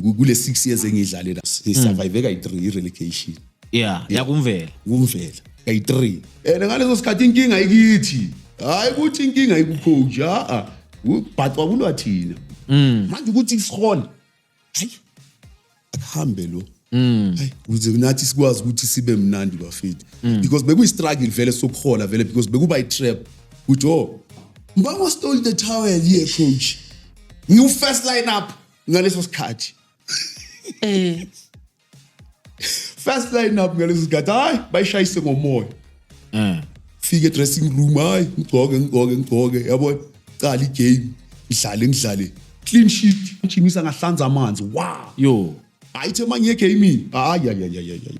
ku- kule six years engiyidlale la sisurvive kayi-three i-relegation yeah yakumvela kumvela kayi-three and ngaleso sikhathi inkinga ikithi hhayi ukuthi inkinga ikucoach a-a ubhacwa kulwa thina manje ukuthi sihole hayi akuhambe lo Hayi, kuze nathi sikwazi ukuthi sibe mnandi bafethu because bekuyi-struggle vele sokuhola vele because bekuba i-trap ukuthi o mbangwa stole the towel ye coach ngiwu-first line up ngaleso sikhathi eh first line up ngaleso sikhathi hayi bayishayise ngomoya eh fike dressing room hayi ngigcoke ngigcoke ngigcoke yabo qala igame ngidlale ngidlale clean sheet ngijimisa ngahlanza amanzi wow yo ayithe manje egamini hayi hayi hayi hayi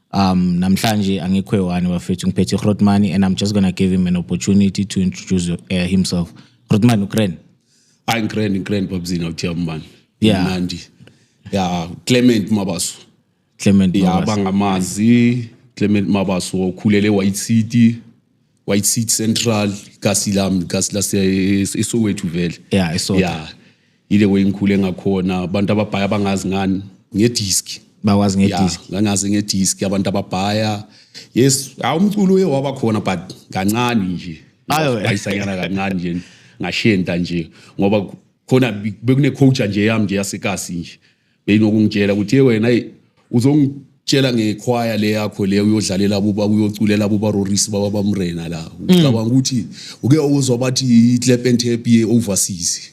Um, namhlanje angikho ewani bafethu ngiphethe Hrotmani and I'm just gonna give him an opportunity to introduce uh, himself. Hrotmani ukren. Hayi ngren ngren babzina uthiya mbani. Yeah. Mnandi. Yeah, Clement Mabaso. Clement Mabaso. Yeah, bangamazi Clement Mabaso okhulele White City. White City Central, Kasilam, Kasila eSoweto vele. Yeah, eSoweto. Yeah. Ile way ngikhule ngakhona abantu ababhaya bangazi ngani ngediski. Bakwazi ngediski. Yeah, ngangazi ngediski abantu ababhaya. Yes, awumculo uye waba khona but kancane nje. Ayo ayisanyana kancane nje ngashenta nje ngoba khona bekune coach nje yami nje yasekasi nje. beyinokungitshela ukuthi ye wena eyi uzongitshela ngekhwaya le yakho le uyodlalela buba uyoculela buba rorisi baba bamrena la ucabanga ukuthi uke uzwa bathi i-clepen tape ye-overseas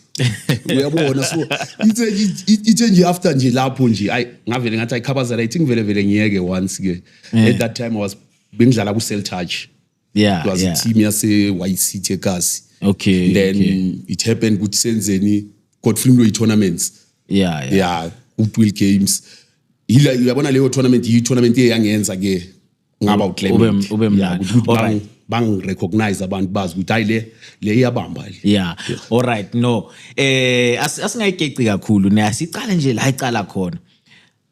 uyabona so ithe ithe nje after nje lapho nje ayi ngavele ngathi ayikhabazela ithi ngivele vele ngiyeke once ke at that time i was bengidlala ku-cell touch yeah, plus yeah. team yase YCT eKasi okay and then okay. it happened ukuthi senzeni Godfrey Mloyi tournaments yeah yeah, yeah Goodwill games yila uyabona leyo tournament yi tournament eyangenza ke ngaba uclaim ube mnandi yeah, bang recognize abantu bazi ukuthi hayi le le iyabamba le yeah all right no eh asingayigeci kakhulu ne asiqale nje la icala khona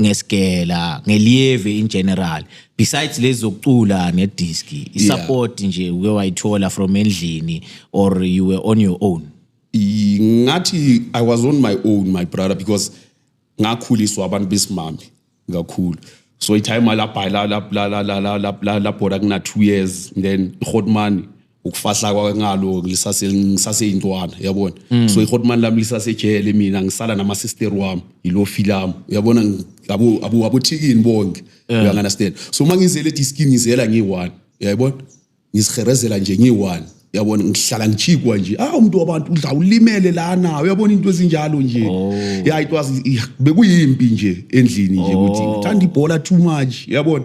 ngesigela ngeliyeve in general besides lezi zokucula nedisc isupport nje uke wayithola from endlini or you were on your own I- ngathi i was on my own my brother because ngakhuliswa abantu besimame kakhulu so itime labhala labhora kuna-two years then i-hotman ukufahla kwake ngalo ngisase ngisaseyintwana uyabona mm. so ihotman lami lisasejele mina ngisala nama sister wami yilo filam uyabona abo abo abothikini bonke yeah. uya understand so mangizele di skin ngizela ngiyi1 uyayibona ngisiherezela nje ngiyi1 uyabona ngihlala ngichikwa nje ah umuntu wabantu udla ulimele lana uyabona into ezinjalo nje oh. yeah it was bekuyimpi nje endlini nje ukuthi oh. ngithanda ibhola too much uyabona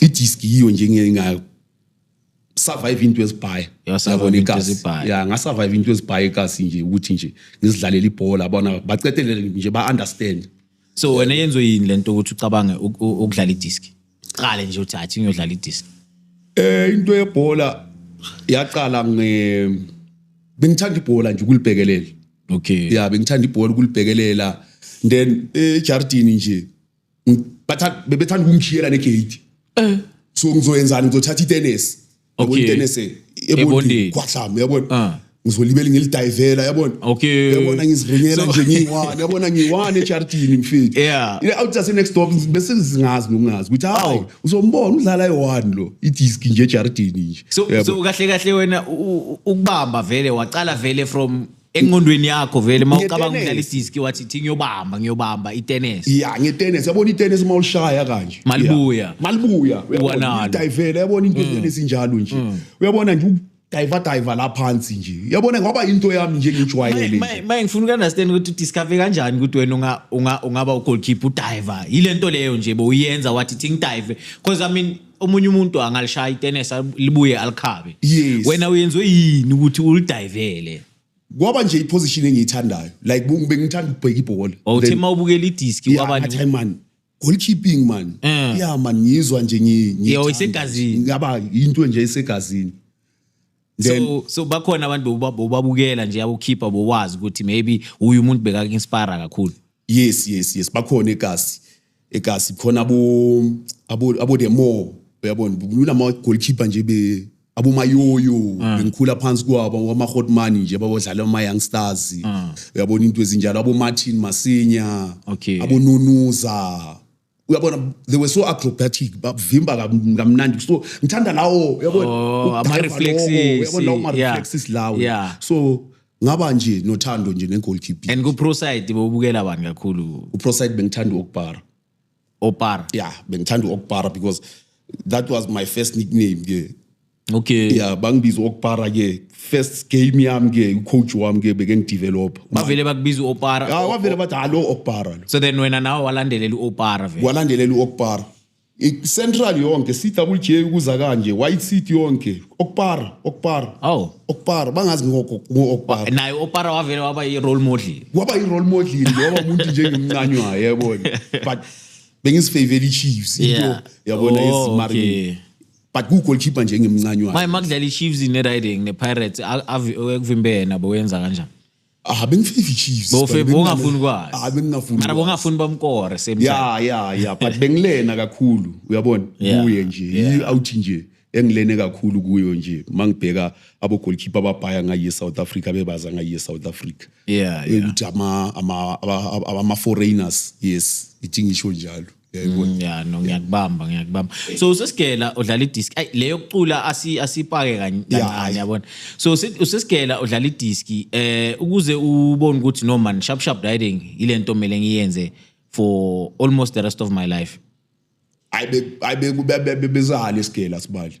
idisk yiyo nje nginga survive into ezibhaya yabona ikasi ya nga survive into ezibhaya ikasi nje ukuthi nje ngizidlalela ibhola bona baqedelele nje ba understand so wena yenzo yini lento ukuthi ucabange ukudlala idisk qale nje uthi athi ngiyodlala idisk eh into yebhola yaqala nge bengithanda ibhola nje ukulibhekelela okay ya bengithanda ibhola ukulibhekelela then ejardini nje Bathatha bebethanda ukumshiyela negate. Eh. So ngizoyenzani ngizothatha itennis. Yabona Okay. itennis eh, Ebondeni. ebondeni kwahlama yabona. Ah. Ngizolibela ngilidivela yabona. Okay. Yabona ngiziringela So- nje ngiyiwani yabona ngiyiwani ejardini mfethu. Yeah. Ile out just next door bese ngizingazi nokungazi ukuthi hayi Awu. uzombona udlala eyiwani lo idisk nje ejardini nje. so Yabo. so kahle kahle wena u- u- ukubamba vele waqala vele from engqondweni yakho vele uma ucabanga Ngetenesi. ukudlala idiski wathi thi ngiyobamba ngiyobamba itennis ya ngetenesi yabona itenesi uma ulishaya kanje Malibuya. Ya. malibuya Uwanalo. uyabona idayivele yabona into itenesi injalo nje uyabona nje udayiva dayiva la phansi nje yabona ngoba into yami nje ngijwayele nje maye maye ngifuna ukunderstand ukuthi udiscover kanjani ukuthi wena unga- unga- ungaba ugoalkeeper udiver yile nto leyo nje bowuyenza wathi thi ngidive because i mean omunye umuntu angalishaya itenesi al- libuye alikhabe Yes. wena uyenziwe yini ukuthi ulidayivele kwaba nje iposition engiyithandayo like bu- bengithanda ukubheka ibhola wawuthe Then- uma ubukela idiski Yeah, kwabani ngathi, "Hayi, man goalkeeping man Eh. yeah man ngizwa nje ngi- ngiyithanda. Yeah, isegazini. ngaba into nje esegazini then so, so bakhona abantu boba- bobabukela nje abokhipha bowazi ukuthi maybe uyu umuntu bekaku-inspira kakhulu yes yes yes bakhona egasi egasi khona abo abo abo the more uyabona kulula ama goalkeeper nje be abo mayoyo ah. bengikhula phansi kwabo ama hot money nje babodlala ama young stars ah. uyabona into ezinjalo abo Martin Masinya okay. abo Nunuza uyabona they were so acrobatic bavimba kamnandi so ngithanda lawo uyabona oh, ama reflexes uyabona lawo ma reflexes lawo so ngaba nje nothando nje ngegoalkeeper and ku pro side bobukela abantu kakhulu ku pro side bengithanda ukubhara opara yeah bengithanda ukubhara because that was my first nickname ke okay ya bangibiza okupara ke first game yami ke ucoach wami ke beke ngidevelop bavele bakubiza uopara ah wavele bathi hallo okupara lo so then wena nawe walandelela uopara vele walandelela uokupara central yonke cwj ukuza kanje white city yonke okupara okupara oh okupara bangazi ngokokupara naye opara wavele waba yi-role model waba yi-role model ngoba umuntu njengemncane wayo yabona but bengisifavele i-chiefs into Yeah. yabona Oh, isimarine okay. but kuwugolkipa nje engimncanywayo manje makudlala i-chiefs ne-riding ne-pirates a- avi- ekuvimbele nabo wenza kanjani ah bengifika i-chiefs Bowufe- but bengingane- bowungafuni kwazi. ah bengingafuni mara kwazi. bongafuni bamkore same time ya ya ya but bengilena kakhulu uyabona Yeah, kuye nje yeah. i-out nje engilene kakhulu kuyo nje uma ngibheka abogolkipa ababhaya ngayi e-south africa bebaza ngayi e-south africa Yeah, yeah. ukuthi ama- ama- aba- aba- ama-foreigners yes ithi ngisho njalo Mm, ya no ngiyakubamba ngiyakubamba so usesigela udlala idisk ay leyo kucula asi asipake kancane yabona so usesigela udlala idisk eh ukuze ubone ukuthi no man sharp sharp riding ilento mele ngiyenze for almost the rest of my life ayibe ayibe bezahale isigela sibali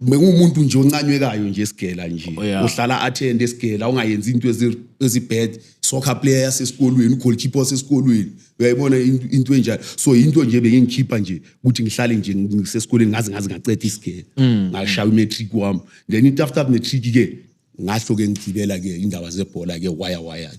bengumuntu nje oncanywekayo nje esigela nje oh, yeah. uhlala attend esigela ungayenzi into ezibad soccer player yasesikolweni ugoalkeeper wasesikolweni uyayibona into enjalo so into nje bengingikhipha nje ukuthi ngihlale nje ngisesikoleni ngaze ngaze ngaceda isigela mm. ngashaya umatric wami then into after matric ke ngasho ke ngigibela ke indaba zebhola ke waya waya ke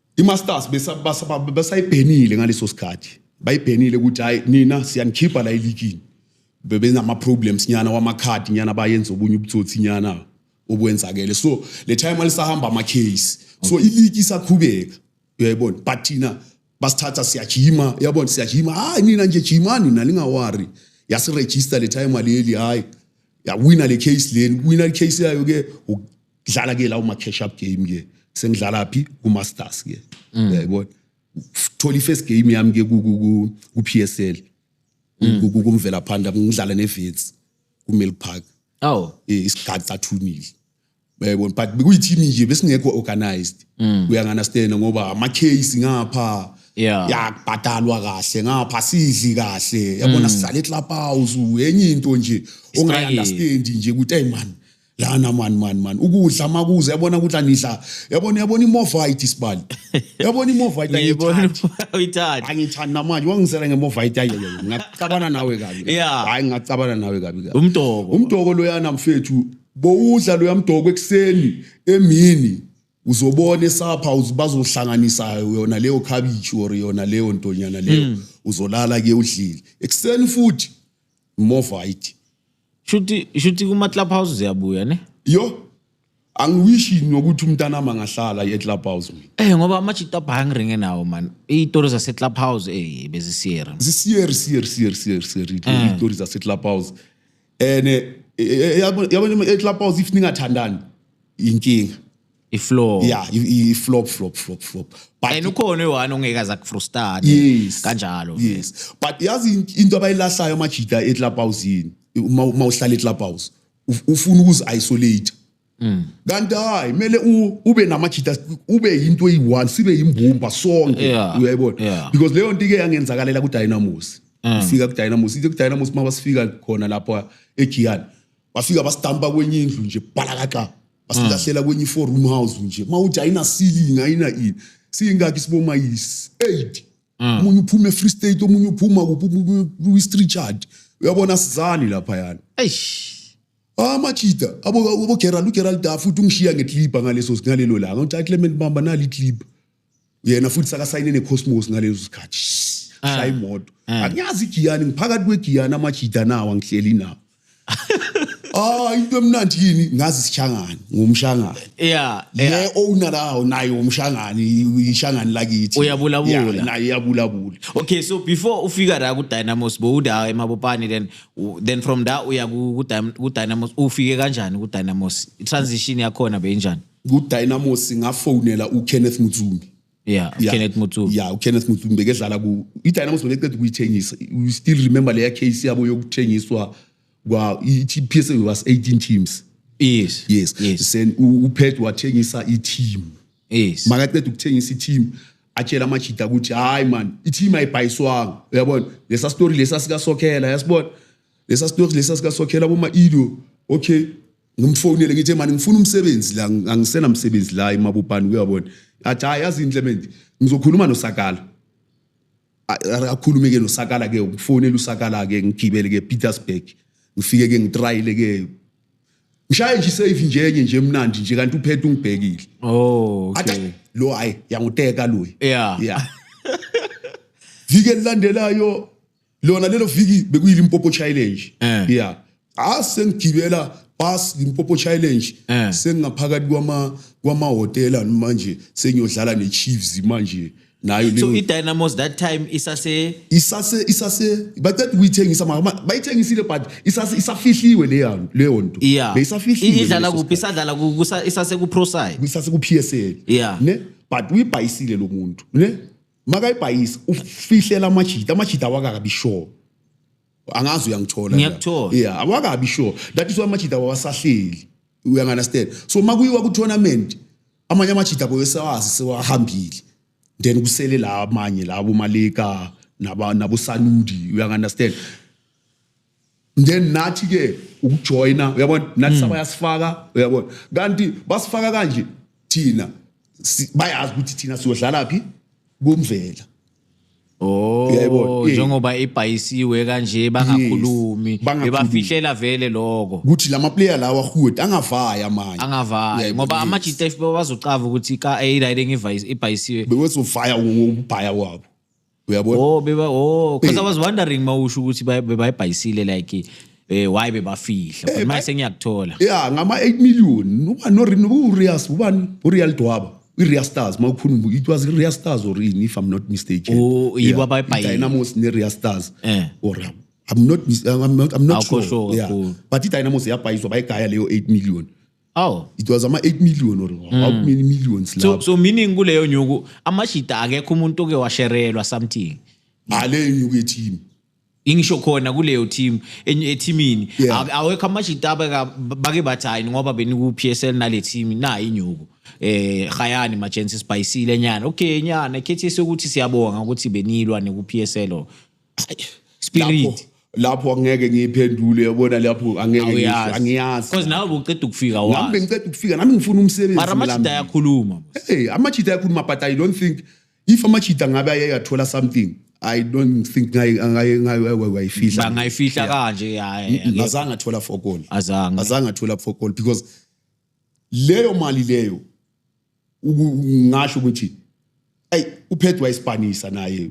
IMasters besayibhenile ngaleso sikhathi bayibhenile ukuthi hayi nina siyanikhipha la elikini bebenama-problems nyana wamakhadi nyana bayenza obunye ubutsotsi nyana obwenzakele so le time alisahamba ama-case so iliki isaqhubeka uyayibona but thina basithatha siyajima yabona siyajima hayi nina nje jimani nalingawari yasirejista le time aleli hayi yawina le case leni wina le case yayo ke dlala ke lawo ma-cash up game ke sengidlala phi ku-masters ke mm. yayibona thola i-first game yami ke ku-p s l mm. kumvela phanda ngidlala ne-vets ku-mill park aw eh, isigadi sathunile yayibona but bekuyithimi nje besingekho organized mm. uyanganastena ngoba ama-case ngapha yakubhadalwa kahle ngapha sidli kahle yabona sihlala eklabhouse enye into nje ongayi-understandi nje ukuthi ayi mani lana mani mani mani ukudla makuze yabona ukuthi anidla yabona yabona imovite isibali yabona imovite ayithandi angithandi namanje wangisela ngemovite ayi ngacabana nawe kabi hayi ngacabana nawe kabi kabi umdoko umdoko loyana mfethu bowudla loya mdoko ekuseni emini uzobona esapha bazohlanganisa yona leyo khabishi or yona leyo ntonyana leyo hmm. uzolala ke udlile ekuseni futhi imovite shuthi shuthi kuma club house ziyabuya ne yo angiwishi nokuthi umntana ama ngahlala e club house mina eh ngoba ama chita hungry ngenawo man itori zase club house eh bezisiyera zisiyer siyer siyer siyer siyer eh. itori zase club house ene eh, eh, yabo yabo e club house if ningathandani inkinga iflow yeah i- i- flop flop flop flop but and ukhona oyi-one ongeke aze akufrustane yes kanjalo yes but yazi in- into abayilahlayo amajita eclubhouse yini uma uma uhlala eclubhouse uf- ufuna ukuzi-isolate Mm. kanti hayi kumele u- ube namajita ube yinto eyi-one sibe yimbumba sonke Yeah, uyayibona yeah. Mm. because leyo nto ike yangenzakalela kudynamos ufika kudynamos ithe kudynamos uma basifika khona lapha egiyani bafika bastampa kwenye indlu nje balakaxa basilahlela kwenye i-four room house nje uma uthi ayinasilingi ayina ini siyingakhi siboma yi-eight omunye uphuma e-free state omunye uphuma kuphi omunye kwi-streechard uyabona sizani laphayana eish Ah machita abo abo Gerald uGerald Dafu uthi ungishiya ngeclip ngaleso ngalelo langa uthi Clement Bamba nali clip yena futhi sakasayine necosmos ngalezo sikhathi ah. shaya imoto ah. angiyazi igiyani ngiphakathi kwegiyani amajida nawo angihleli nawo ah into emnandi yini ngazi sishangane ngumshangane yeah le owner lawo naye umshangane ishangane lakithi uyabulabula naye uyabulabula okay so before ufika la ku Dynamos bowuda emabopani then then from that uya ku Dynamos ufike kanjani ku Dynamos transition yakhona beyinjani kudynamos ngafonela ukenneth mutsumbi yeah, yeah. kenneth mutsumbi yeah, ukenneth mutsumbi bekedlala ku idynamos bekeqeda ukuyithengisa you still remember leya case yabo yokuthengiswa kwa i-p s a was 18 teams yes yes, yes. sen uphet wathengisa i-team yes makaqeda ukuthengisa i-team atshela amajida ukuthi hayi man i-team ayibhayiswanga uyabona lesa story lesa sikasokhela yasibona lesa story lesa sikasokhela boma-ido okay ngimfonele ngithe mani ngifuna umsebenzi la angisena msebenzi la emabubhani kuyabona athi hayi yazi indle manje ngizokhuluma nosakala akhulume ke nosakala ke ukufonela usakala ke ngigibele ke Petersburg ngifike ke ngitrayile ke ngishaye nje safe nje enye nje emnandi nje kanti uphethe ungibhekile oh okay lo hayi yanguteka lo yeah yeah vike lilandelayo lona lelo viki bekuyilimpopo challenge Eh. yeah ah sengigibela bus limpopo challenge Eh. sengingaphakathi kwama kwamahotela manje sengiyodlala nechiefs manje nayo so leyo idynamos that time isase isase isase baqeda ukuyithengisa mara ma- bayithengisile but isase isafihliwe leyo leyo nto yeah beyisafihliwe I- idlala ngaleso kuphi sikhathi. isadlala ku- kusa- isase ku pro side isase ku PSL Yeah. ne but uyibhayisile lo muntu ne makayibhayisi ufihlela amajita amajita awakakabi sure angazi uyangithola ngiyakuthola yeah awakabi sure that is why amajita wawasahleli uyangunderstand so makuyiwa ku tournament amanye amajita boyesawazi sewahambile then kusele la amanye labo malika naba nabo sanudi uyangunderstand then nathi ke ukujoyina uyabona nathi hmm. sabayasifaka uyabona kanti basifaka kanje thina bayazi ukuthi thina siyodlala phi kumvela Oh yebo njengoba ibhayisiwe kanje bangakhulumi bebafihlela vele lokho ukuthi lama player lawa hood angavaya manje angavaya ngoba ama GTF bazocava ukuthi ka A right ngivayisi ibhayisiwe bewezovaya ubhaya wabo uyabona oh beba oh because i was wondering mawusho ukuthi bebayibhayisile like eh why bebafihla but eh, manje sengiyakuthola yeah ngama 8 million uba no rin urias ubani urial dwaba i-real stars ma ukhuluma it was i-real stars or in if i'm not mistaken oh yibo abayibhayile dynamos ne-real stars eh or I'm not I'm not, I'm not sure, sure yeah. but i-dynamos yabhayiswa bayigaya leyo 8 million Oh. It was ama 8 million or mm. how many millions so, lapho. So meaning kuleyo nyuku amashida akekho umuntu oke washerelwa something. Ngale nyuku yethini. ingisho khona kuleyo team ethimini yeah. awekho amashita bake bathi hayi ngoba beniku-psl nale team nayi inyuku eh hayani majensi sibhayisile nyana okay nyana khethi sokuthi siyabonga ukuthi benilwa neku-psl spirit lapho angeke ngiyiphendule yabona lapho angeke angiyazi because nawe ubuceda ukufika wazi nami ngiceda ukufika nami ngifuna umsebenzi mara amachita ayakhuluma hey amachita ayakhuluma but i don't think if amachita ngabe ayeyathola something I don't think ngayifihla ngayifihla kanje hayi ngazange athola fokol azange azange athola fokol because leyo mali leyo ngasho ukuthi hey uphethwe wayisipanisa naye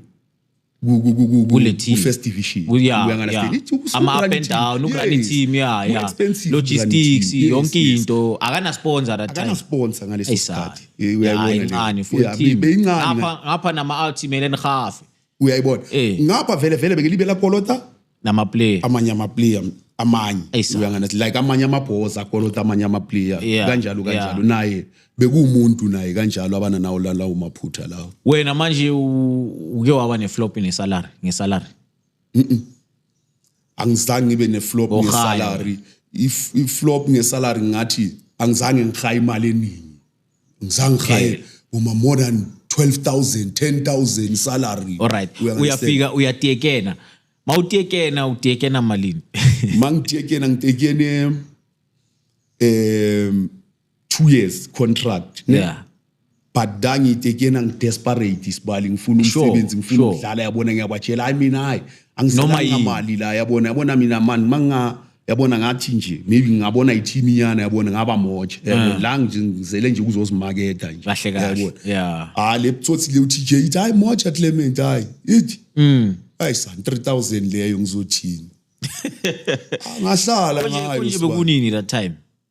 first division ama up and down ukurani team ya ya logistics yonke into akana sponsor that time akana sponsor ngaleso sikhathi uyayibona incane full team ngapha ngapha nama ultimate enhafe uyayibona Eh. ngapha vele vele bekelibe lakolota namaplayer amanye amaplayer amanye Eyi, sa- uyangana like amanye amabhoza akolota amanye amaplayer Yeah, kanjalo yeah. kanjalo naye bekuwumuntu naye kanjalo abana nawo la- lawo maphutha lawo wena manje u- uke waba neflop nesalary ngesalary angizange ngibe neflop Ohaya. ngesalary If- iflop ngesalary ngathi angizange ngihaye imali eningi ngizangihaye ngoma more than 12000 10000 salary alright uyafika uyatiyekena mawutiyekena utiyekena malini mangitiyekena ngitiyekene um 2 years contract ne? yeah but dangitiyekena ngidesperate isibali ngifuna umsebenzi ngifuna ukudlala yabona ngiyabatshela hayi mina hayi angisinamali la yabona yabona mina mani manga yabona ngathi nje maybe ngingabona i-team iyana yabona ngaba moja yabona mm. la nje ngizele nje ukuzozimaketha nje kahle kahle yabona yeah ah le pthothi le uTJ ithi hayi moja Clement hayi ithi mm hayi san 3000 leyo ngizothini ngahlala ngayo nje bekunini that time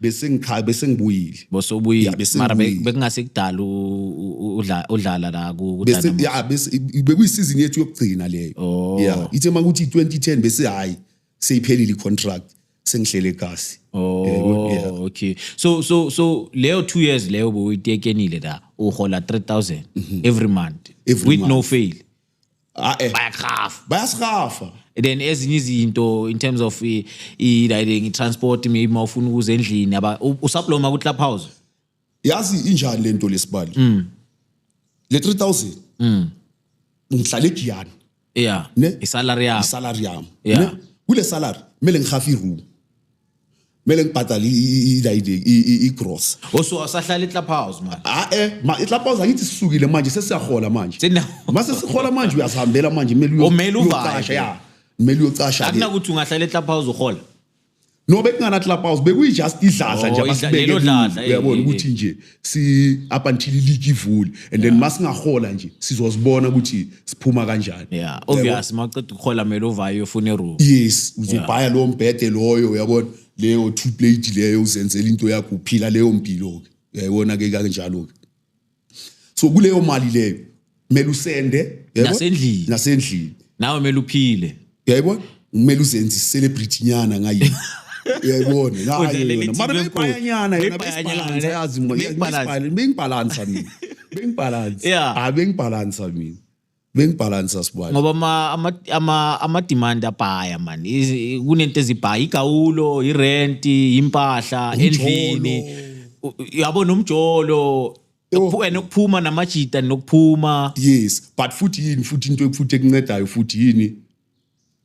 besengikhaya besengibuyile bose ubuyile Yeah, bese mara be- ngibuyile. bekungase kudala u- u- udla- udlala la ku- ku bese Dynamos. ya bese bekuyisizini yethu yokugcina leyo Oh. yeah ithe makuthi 2010 bese hayi seyiphelile icontract sengihlele kasi Oh, Eh, yeah. okay. So so so leyo 2 years leyo bowuyitekenile la uhola 3000 every month Mhm. Every with no month. fail. Ah, eh. bayagrafa bayasirafa then ezinye izinto in terms of i- i- like i-transport maybe uma ufuna ukuza endlini aba- u- usaploma ku-club house yazi injani le nto lesibali Mm. le 3000 ngihlale egiyani yeah Ne? isalary yakho isalari yami Yeah. Ne? kule salari kumele ngihafe iroom kumele ngibhadale igross oso asahlala iclub house manje ah eh ma iclub house angithi sisukile manje sesiyahola manje mase sihola manje uyasihambela manje kumele umele uvashe ya kumele uyocasha akunakuthi ungahlala eclub house uhola no bekungana club house bekuyi just idladla nje oh, abasibeke uyabona ukuthi nje si up until iligi ivule and then masingahola nje sizozibona ukuthi siphuma kanjani yeah obvious maqeda ukuhola mele uvaye ufune iroom yes uzobhaya lowo mbhede loyo uyabona leyo two plate leyo uzenzela into yakho uphila leyo mpilo ke uyayibona ke kanjalo ke so kuleyo mali leyo kumele usende yebo? Nasendlini. nasendlini nawe mele uphile yayibona kumele uzenze i-celebrity nyana ngayi uyayibona Kodwa ngayo leli yona. mara team enkulu, beyibhayanyana yona beyibhayanyana, beyibhalansa yazi mina. beyibhalansa. Beyibhal- beyibhalansa mina beyibhalansa Yeah. hayi beyibhalansa mina beyibhalansa sibali ngoba ama- ama- ama- ama-demand abhaya mani Izi- kunento ezibhaya igawulo irenti impahla endlini U- yabo nomjolo Ukuphu- and ukuphuma namajita nokuphuma yes but futhi yini futhi into futhi ekuncedayo futhi yini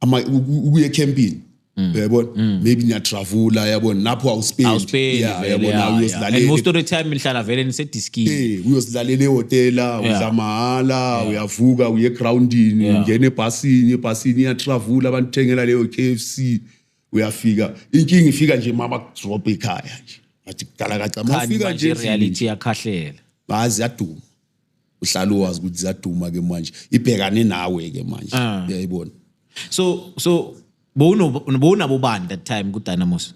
ama uku- ukuya ecampini Mm. uyabona maybe niyatravula yabona lapho awuspendi awuspendi Yeah, vele, yabona yeah, yeah. and most uyozilalela of the time nihlala vele nisediskini Eh, uyozilalela ehotela Yeah. udla mahhala uyavuka uye egroundini Yeah. ungena ebhasini ebhasini iyatravula abantu thengela leyo KFC uyafika inkinga ifika nje mama kudrop ikhaya nje ngathi kudala kaca mafika nje reality yakhahlela bazi yaduma uhlala uwazi ukuthi ziyaduma ke manje ibhekane nawe ke manje ah. uyayibona so so bowunabo bani that time kudynamos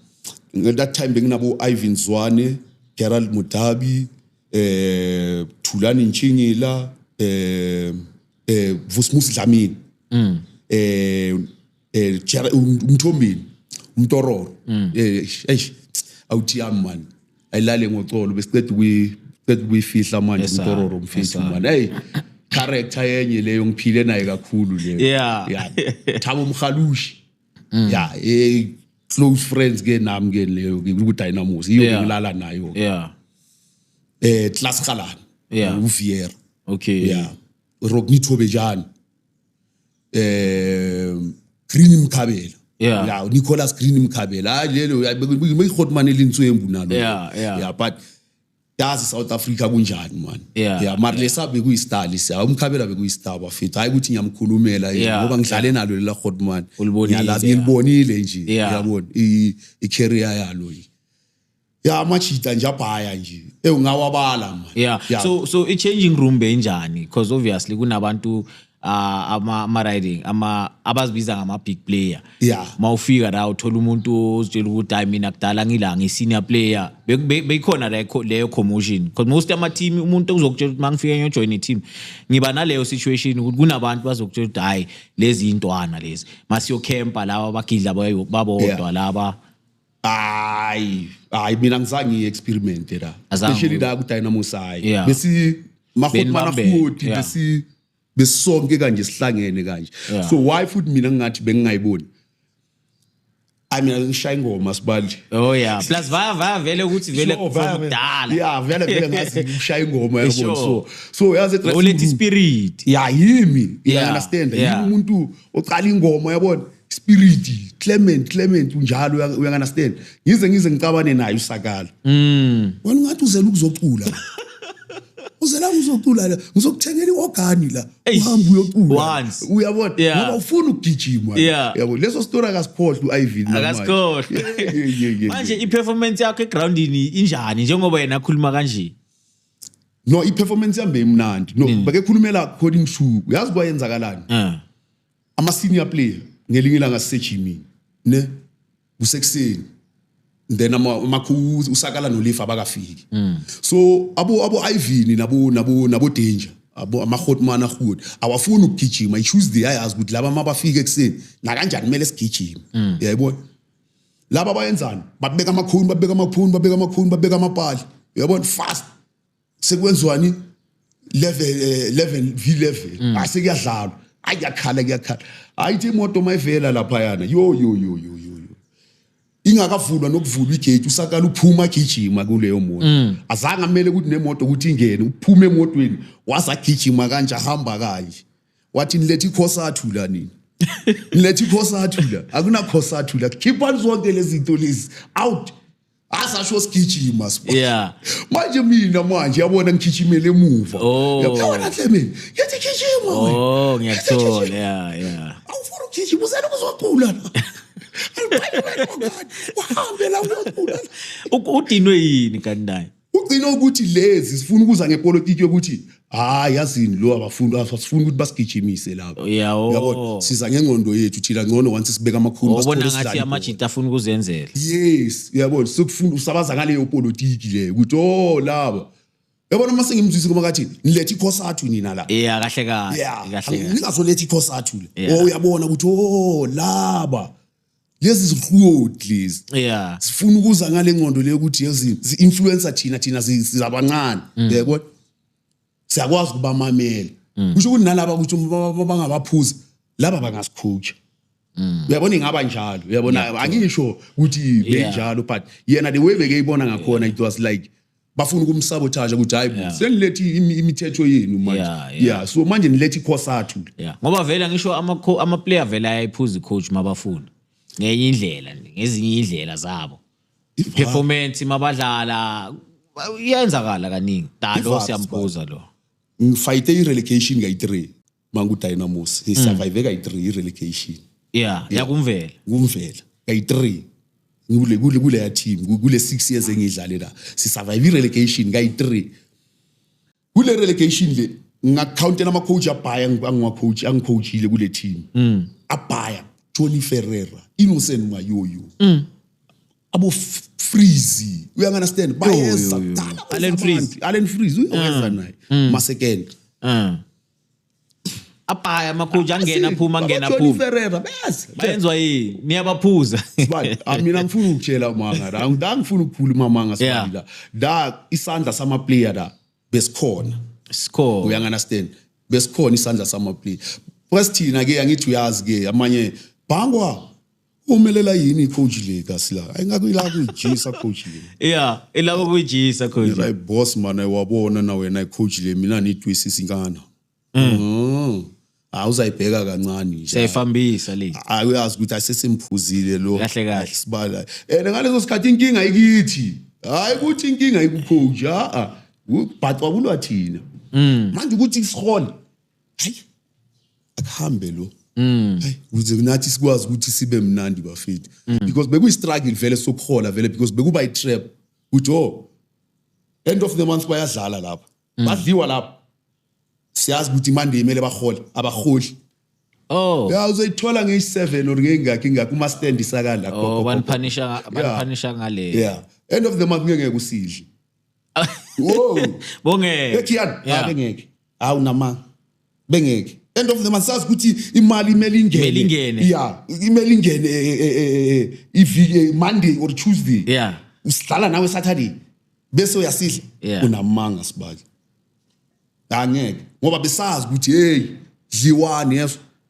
that time benginabo ivan zwane gerald mudabi eh thulani ntshingila eh eh vusmusi dlamini mm. eh eh Jara- um- umthombeni umtororo Mm. eh eish awuthi yami man ayilale ngocolo besiqeda ukuyi qeda ukuyifihla manje Yes, sir. umtororo Yes, mfethu sir. man hey character yenye leyo ngiphile naye kakhulu leyo Yeah. Mm. yeah thabo mhalushi yeah eh close friends ke nami ke leyo ke ku dynamos iyo Yeah. ngilala nayo yeah eh class khalana Yeah. uviera okay yeah rock nithobe jani eh Green Mkhabela Yeah. yeah Nicholas Green Mkhabela hayi lelo uyayihotman elinswembu nalo Yeah, yeah. yeah but yazi South Africa kunjani man Yeah, yeah mara lesa bekuyistar lesa umkhabela bekuyistar bafethu hayi ukuthi ngiyamkhulumela yini, Yeah, ngoba ngidlale nalo lela hotman Ulibonile, ngiyalazi yeah. ngilibonile nje Yeah. uyabona i i career yalo nje ya amachita nje abhaya nje ewu ngawabala manje yeah. yeah so so i changing room benjani because obviously kunabantu uh, ama ama riding ama abazibiza ngama big player yeah mawufika la uthola umuntu ozitshela ukuthi hayi mina kudala ngila ngi senior player beyikhona be, be leyo commotion because most ama team umuntu uzokutshela ukuthi mangifika ngiyo join i team ngiba naleyo situation ukuthi kunabantu bazokutshela ukuthi hayi lezi intwana lezi masiyo camper laba bagidla babodwa yeah. laba hayi hayi mina ngizange ngiyi-experimente la Azange especially ube- la kudynamos hayi Yeah. besi mahoti mana Benibambene, futhi yeah. besi besonke kanje sihlangene kanje Yeah. so why futhi mina ngingathi bengingayiboni ayi mina ngishaya ingoma sibanje oh yeah plus vaya vaya vele ukuthi vele Sure, vele- kudala yeah vele vele ngazi ukushaya ingoma yabona Sure. so so yazi ulethe ispirit ya yimi Yeah, yeah understand yeah. yimi umuntu oqala ingoma yabona spirit clement clement unjalo uya- uyanganasiteni ngize ngize ngicabane naye usakala Mm. wena ungathi uzela ukuzocula uzela ukuzocula la ngizokuthengela i-ogani la Eish, uhambe uyocula once. uyabona Yeah. ngoba ufuna ukugijima Yeah. yabo leso story akasikhohlwa u-ivan akasikhohlwe Yeah, yeah, yeah, yeah. manje i-performance yakho egroundini injani njengoba yena akhuluma kanje no i-performance yambe imnandi no Mm. bakekhulumela khona imshuku yazi kwayenzakalani Ah. ama senior player ngelinye ilanga sisejimini ne kusekuseni then amakhu usakala nolifa abakafiki mm. so abo abo Ivini nabo nabo nabo danger abo amahotman ahud awafuni ukugijima i choose the ayazi ukuthi laba mabafika ekuseni na kanjani kumele sigijime mm. yayibona laba bayenzani babeka amakhuni babeka amakhuni babeka amakhuni babeka amapali uyabona fast sekwenziwani level eh, level v level mm. ase kuyadlalwa ayi yakhala kuyakhala ayithi imoto mayivela lapha yana yo yo yo yo yo ingakavulwa nokuvulwa igate usakala uphuma agijima kuleyo moto mm. azange amele ukuthi nemoto ukuthi ingene uphuma emotweni waze agijima kanje ahamba kanje wathi nilethe ikhosathu la nini nilethe ikhosathu la akunakhosathu la khiphani zonke lezi zinto lezi out asasho sigijima sibona Yeah. manje mina manje yabona ngigijimele emuva Oh. yabona hle mina yathi gijima wena. Oh, Yathi ngiyakuthola. gijima. Yeah, yeah. awufuna ukugijima usana kuzogula la aliphayimele kwakani uhambe la uyogula la Uku- Udinwe yini kanti naye? ugcina ukuthi lezi sifuna ukuza ngepolitiki yokuthi hayi yazini lo abafundi asifuni ukuthi basigijimise lapho Yawo. yabo siza ngengqondo yethu thina ngcono once sibeka amakhulu Ubona basithole ngathi sidlale ibhola. amajita afuna ukuzenzela. yes uyabona sokufunda usabaza ngaleyo politiki leyo ukuthi oh laba yabona uma sengimzwisi kuma kathi nilethe ikhosathu nina la Yeah, kahle kahle. yeah Kahle kahle. ningazoletha ikhosathu le Yeah. oh uyabona ukuthi oh laba lezi zihlodi lezi yeah sifuna ukuza ngale nqondo le ukuthi yezi influencer thina thina sizabancane mm. yebo siyakwazi ukubamamela mm. kusho ukuthi nalaba ukuthi bangabaphuza laba bangasikhutsha mm. uyabona ingaba njalo uyabona angisho ukuthi benjalo but yena the way bekeyibona ngakhona it was like bafuna ukumsabotage ukuthi hayi yeah. senilethe imithetho yenu manje yeah, yeah. yeah so manje nilethe ikhosathu yeah. ngoba vele ngisho amaplayer ama vele ayayiphuza icoach mabafuna ngenye indlela ngezinye indlela zabo performance mabadlala iyenzakala kaningi dalo siyambuza lo ngifayite i-relegation ngayi-three mangu Dynamos he survive kay 3 relegation yeah yakumvela kumvela kay 3 ngule kule kule ya team ku- kule 6 years engidlale la si survive relegation kay 3 kule relegation le ngakountela ama coach abhaya ngiwa coach angicoachile kule team abhaya Johnny Ferreira Innocent Mayoyo abo F- Freezy uya understand bayeza yo, yo. kudala Allen Freeze. Allen Freeze uyawenza naye masekende ah abhaya amakhoji angena aphuma angena aphuma Ferreira bayazi bayenzwa yini niyabaphuza ah, mina ngifuna ukutshela manga la ngifuna ukuphula umamanga sibila la isandla sama player la besikhona sikhona uya understand besikhona isandla sama player press thina ke angithi uyazi ke amanye bhangwa umelela yini icoach le kasila ayingaku ila kuyijisa coach le yeah ila kuyijisa coach la boss mana wabona na wena icoach le mina nitwisisa inkana mm. mm. awuzayibheka kancane nje sayifambisa le awuyazi ukuthi asesimphuzile lo kahle kahle sibala and ngaleso sikhathi inkinga ikithi hayi ukuthi inkinga ikucoach a ubhathwa kulwa thina mm. manje ukuthi isihole hayi akuhambe lo Mm. Hey, kuze nathi sikwazi ukuthi sibe mnandi bafethu mm. because bekuyi struggle vele sokuhola vele because bekuba i trap ukuthi oh end of the month bayadlala lapha mm. badliwa lapha siyazi ukuthi imande imele bahole abaholi Oh. Ya uzoyithola ngeyi 7 or ngengakhi ngakho uma stand isakala khona. Oh, banipanisha banipanisha ngale. Yeah. End of the month ngeke usidle. Whoa. Bongeke. Ekhiyani? Ngeke ngeke. hawu nama bengeke end of the month sazi ukuthi imali imeli Imeli ingene. ingene yeah imeli ingene eh, eh, eh, eh, iviki eh, monday or tuesday yeah usidlala nawe saturday bese uyasidla Yeah. unamanga sibali angeke ngoba besazi ukuthi hey dliwani yeso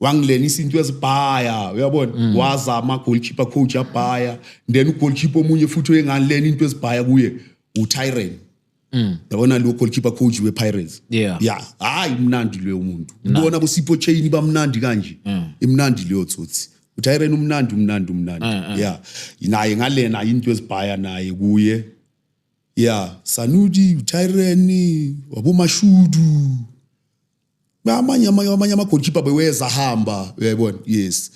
wangilenisa into ezibhaya uyabona mm. wazama goalkeeper coach abhaya then ugoalkeeper omunye futhi oyengalena into ezibhaya kuye uTyrene Mm. yabona lo goalkeeper coach we-pirates yeah. yeah. hayi mnandi leyo umuntu ubona bosipho chain bamnandi kanje mm. imnandi leyo tsotsi utyren umnandi umnandi umnandi mm, mm. ya naye ngalena into ezibhaya naye kuye ya sanudi utyren wabomashudu amanye amanye amagoalkeeper beweza hamba uyayibona yes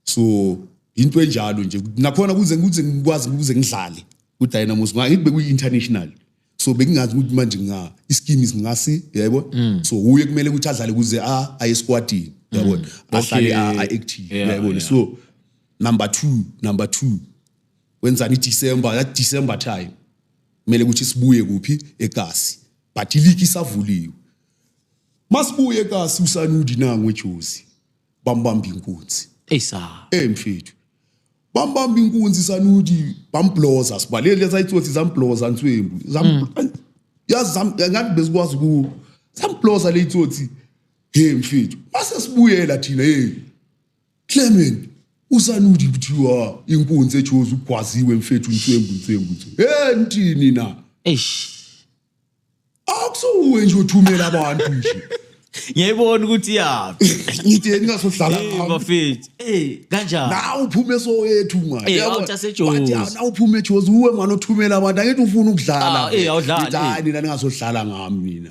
so into enjalo nje nakhona kuze kuze ngikwazi kuze ngidlale kudynamos ngathi bekuyi international so bengingazi ukuthi manje nga iskim is ngasi yebo mm. so uye kumele ukuthi adlale kuze a aye squadini yebo mm. ahlale a active yebo so number 2 number 2 wenzani December that December time kumele ukuthi sibuye kuphi egasi but iligi isavuliwe masibuye kasi usanudi nangu ejozi bambamba inkunzi eyisa eh mfethu bambamba inkunzi sanudi bambloza sibalele lesayitsothi zambloza nswembu zam hmm. yazi zam ngathi bezikwazi ku zambloza leyitsothi hey mfethu base sibuyela thina hey Clement usanuthi kuthiwa inkunzi ejozi ugwaziwe mfethu nswembu nswembu nswembu. Eh ntini na? Eish. Akusuwe nje uthumela abantu nje. Ngiyayibona ukuthi yaphi. Ngithi yena ngasohlala Hey ngami. bafethu. Eh kanjani? Nawu uphuma esoyethu manje. Eh, Yabo, out yaseJozi. wathi, "Ah, nawu uphuma eJozi uwe manje othumela abantu angithi ufuna ukudlala. Ah, eh, awudlali, Ngithi, eh. "Hayi, nina ningasohlala ngami nina.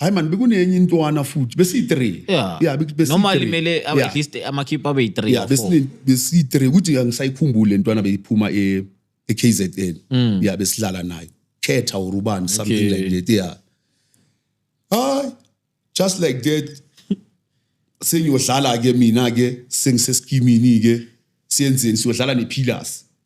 hayi mani bekunenye intwana futhi besiyi-three Yeah. Yeah, bek- besiyi-three. normally mele Yeah. at least amakhiphu abe yi-three yeah or four. besine- besiyi-three ukuthi angisayikhumbuli le ntwana beyiphuma e- e-kzn Mm. ya besidlala nayo khetha or ubani something Okay. like that yeah hayi just like that sengiyodlala-ke mina-ke sengisesikimini-ke siyenzeni siyodlala ne-pillars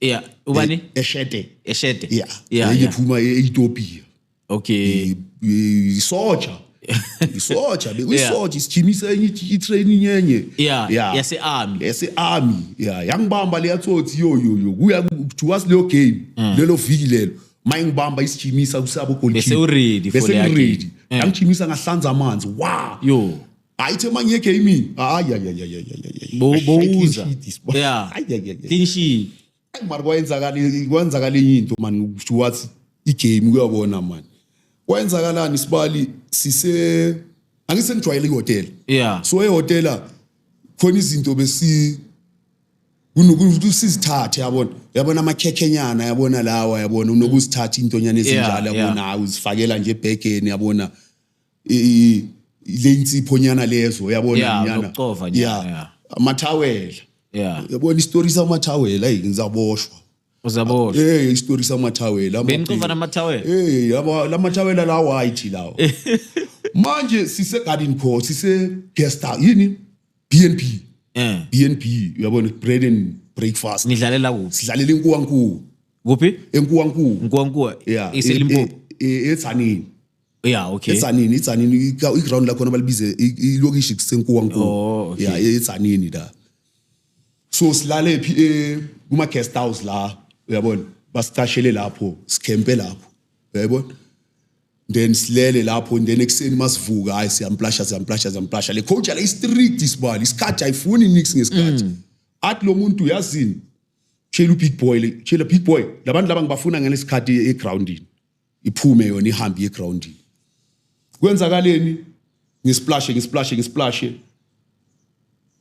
yeah ubani E- eshede eshede yeah yeah, enye yeah. phuma e-ethiopia okay I- i- isoja isoja Yeah. bekuyisoja isijimisa enye i- i-training enye yeah Yeah. yase-army yase-army ya yangibamba leya tsotsi yoyoyo kuya kuthiwa sileyo game Mm. lelo viki lelo ma ingibamba isijimisa kusabo Bese u-ready for leya game. Mm. yangijimisa ngahlanza amanzi wa Yo. hayi the manje egaming hayi bowuza yeah clean sheet mara kwayenzakala kwenzakala enye into mani kusho wathi igame kuyabona mani kwayenzakalani sibali sise angise ngijwayele ihotela yeah so ehotela khona izinto besi unokusizithathe yabona yabona amakhekhenyana yabona lawa yabona unokusithatha intonyana ezinjalo yabona uzifakela nje ebhegeni yabona i- le insipho nyana lezo yabona Yeah, nyana zokucova nyana, yeah yeah. amathawela yeah yabona isitori samathawela hey ngizaboshwa uzabo hey isitori samathawela ama- benicova namathawela hey yabo lamathawela la white lawo manje sise garden co sise guest house yini BNB eh BNB uyabona bread and breakfast nidlalela kuphi sidlalela inkuwankulu kuphi enkuwankulu nkuwankuwa yeah iselimpopo e- e- e- eTzaneni yeah okay esanini itsanini iground lakhona balibize ilokishi kusenkuwankulu oh, okay. yeah etsanini la so silale phi eh, kuma guest house la uyabona basicashele lapho sikhempe lapho uyayibona then silele lapho then ekuseni masivuka hayi siyamplasha siyamplasha siyamplasha le coach la istrict isibali isikhathi ayifuni nix ngesikhathi mm. athi lo muntu yazini tshela ubig boy tshela big boy labantu laba ngibafuna ngalesikhathi egroundini iphume yona ihambe iye egroundini kwenzakaleni ngisplashe ngisplashe ngisplashe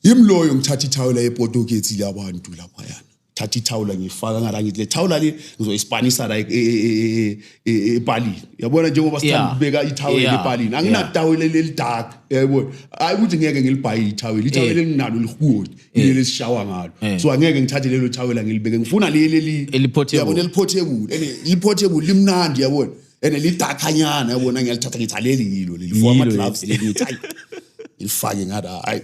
yimloyo ngithatha ithawula yepotokethi labantu lapha yana thatha ithawula ngifaka ngala ngithi le thawula le ngizoyispanisa la e, e, e, epalini yabona njengoba sithanda ukubeka ithawula epalini anginatawula lelidark yabona hayi ukuthi ngeke ngilibhaye ithawula ithawula elinginalo lihukuni ileli eh. esishawa ngalo eh. so angeke ngithathe lelo thawela ngilibeke ngifuna leli eli eliphothe yabona eliphotable ene liphotable limnandi yabona ene lidakanyana yabona ngiyalithatha ngithi leli yilo leli for ama gloves leli ngithi hayi ilifake ngathi hayi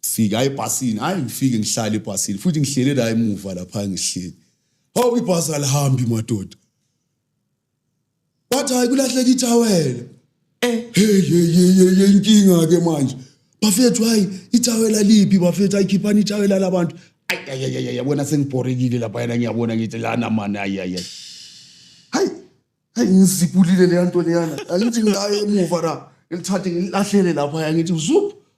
fika ebhasini hayi ngifike ngihlale ebhasini futhi ngihlele la emuva lapha ngihleli hawu ibhasi alihambi madoda wathi hayi kulahleka ithawela eh hey hey hey hey inkinga ke manje bafethu hayi ithawela liphi bafethu ayikhiphani ithawela labantu ayayayaya bona sengibhorekile lapha yena ngiyabona ngithi lana mani ayayay hayi hayi ngizipulile leya nto leyana angithi ngayo emuva ra ngilithathe ngilahlele lapha ya ngithi zup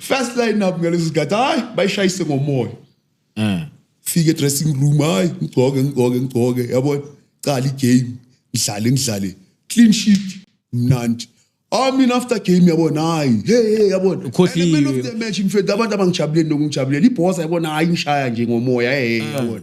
first line up ngaleso sikhathi hayi bayishayise ngomoya eh fike dressing room hayi ngigcoke ngigcoke ngigcoke yabona qala igame ngidlale ngidlale clean sheet mnandi I mean after game yabona hayi hey hey yabona ukhohliwe at the end of the match mfethu abantu abangijabuleli nokungijabuleli ibhosa yabona hayi ngishaya nje ngomoya hey yabona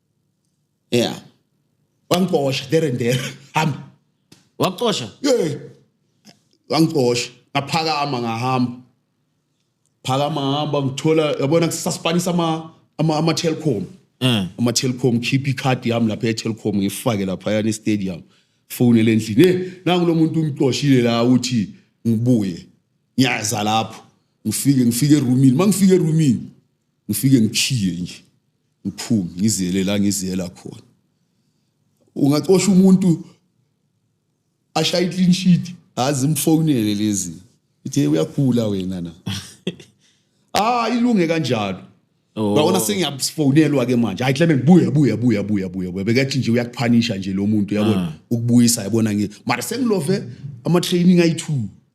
yeah wangicosha there and there hamba wakucosha yeah wangicosha ngaphakama ngahamba phakama hamba ngithola yabona kusaspanisa ama ama ama telecom eh ama telecom keep icard yami lapha e telecom ngifake lapha yana e stadium phone elendlini hey nangu lo muntu ungicoshile la uthi ngibuye ngiyaza lapho ngifike ngifike eroomini mangifike eroomini ngifike ngikhiye nje ngiphume ngiziyele la ngiziyela khona ungacosha umuntu ashaye clean sheet azi mfonele lezi ithe uyakhula wena na ah ilunge kanjalo Oh. Ngabona sengiyafonelwa ke manje. Hayi Clement buya buya buya buya buya. buya. Bekathi nje uyakuphanisha nje lo muntu yabona Ah. ukubuisa yabona ngi. Mara sengilove ama training ayi2.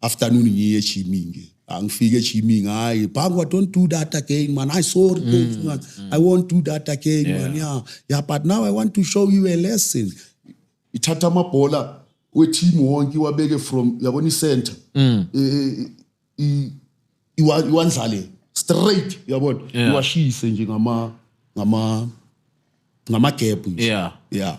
afternoon ngiye ejimini nje angifike ejimini hayi bhangwa don't do that again man i sorry mm, man mm. i won't do that again yeah. man yeah yeah but now i want to show you a lesson ithatha amabhola weteam wonke iwabeke from yabona icenter mm. e, e, e, iwandlale straight uyabona yeah. iwashise nje ngama ngama ngama gap nje yeah yeah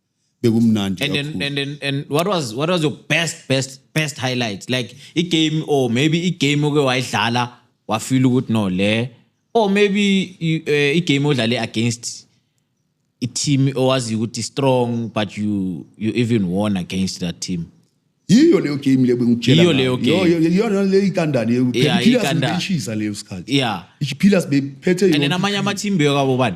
bekumnandi and then, and then and what was what was your best best best highlight like i game or maybe i game oke wayidlala wafeel ukuthi no le or maybe eh, i game odlale against i team owazi ukuthi strong but you you even won against that team yiyo leyo game leyo bengikutshela yiyo leyo game yiyona leyo ikandani leyo phila sibeshisa leyo sikhathi yeah iphila sibephethe yona and namanye ama team beyo kabo bani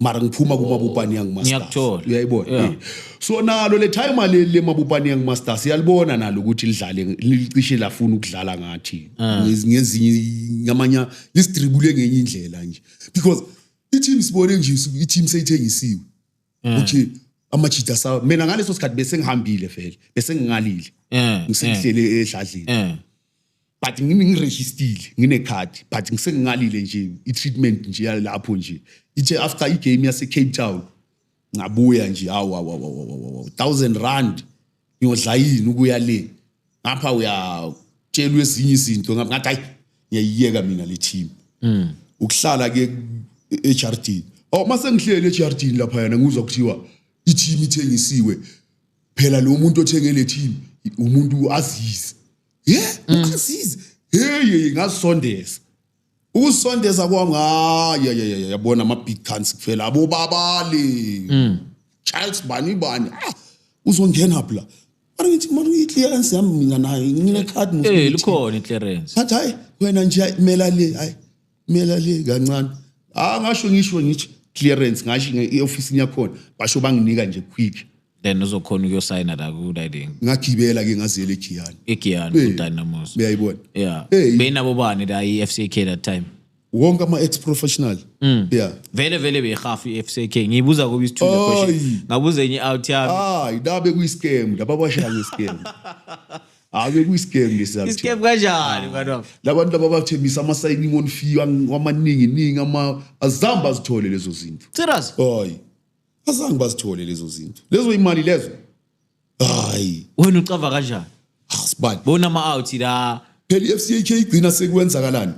mara ngiphuma kumabupani yangu Ngiyakuthola. uyayibona Yeah. Eh. so nalo le time leli lemabupani yangu masters iyalibona nalo ukuthi lidlale licishe lafuna ukudlala ngathi Ah. Ngez- ngezinye ngamanya lisidribule ngenye indlela nje because i-team sibone nje su- i-team seyithengisiwe Ah. ukuthi amajita sa mina ngaleso sikhathi bese ngihambile vele bese ngingalile Eh, ngisengihlele edladleni eh. but ngiregistered nginecard but ngisengingalile nje i-treatment nje yalapho nje ithe after i-game yase-cape town ngabuya nje hawu awu thousand rand ngiyodla yini ukuya le ngapha uyatshelwa ezinye izinto ngathi hayi ngiyayiyeka mina le team mm. ukuhlala ke eHRD oh mase ngihlele eHRD lapha yana ngizwa kuthiwa i-team ithengisiwe phela lo muntu othenge le team umuntu uazizi ye uazizi hey ngasondeza ukusondeza kwami hayi ya ya yabona ama big cans kufela abo babali mm. Charles bani bani ah uzongena phela mara ngithi mara i-clearance yami mina nayo ngine-card eh likhona i-clearance but hayi wena nje mela le hayi mina le kancane ah ngasho ngisho ngithi clearance ngasho nge-office yakhona basho banginika nje quick then uzokhona ukuyosayina la ku-riding ngagibela ke ngaziyela egiyani egiyani Hey. kudynamos uyayibona yeah Hey. beyinabo bani la i-f c k that time wonke ama-ex professional Mm. yeah vele vele beyihafu i-f c k ngiyibuza kobe isithule Ayi. question ngabuza enye i-out yami hayi la bekuyi-scam laba bashaya nge-scam Ave kuyiscam lesi Iscam sakuthiwa. kanjani mfana. Labantu laba bathembisa ama signing on fee ang- amaningi ningi ama azamba azithole lezo zinto. Serious? Hayi. Azange bazithole lezo zinto. Lezo imali lezo. Hayi. Wena ucava kanjani? Asibani. Bona ama out la. Phela iFCK igcina sekwenzakalani?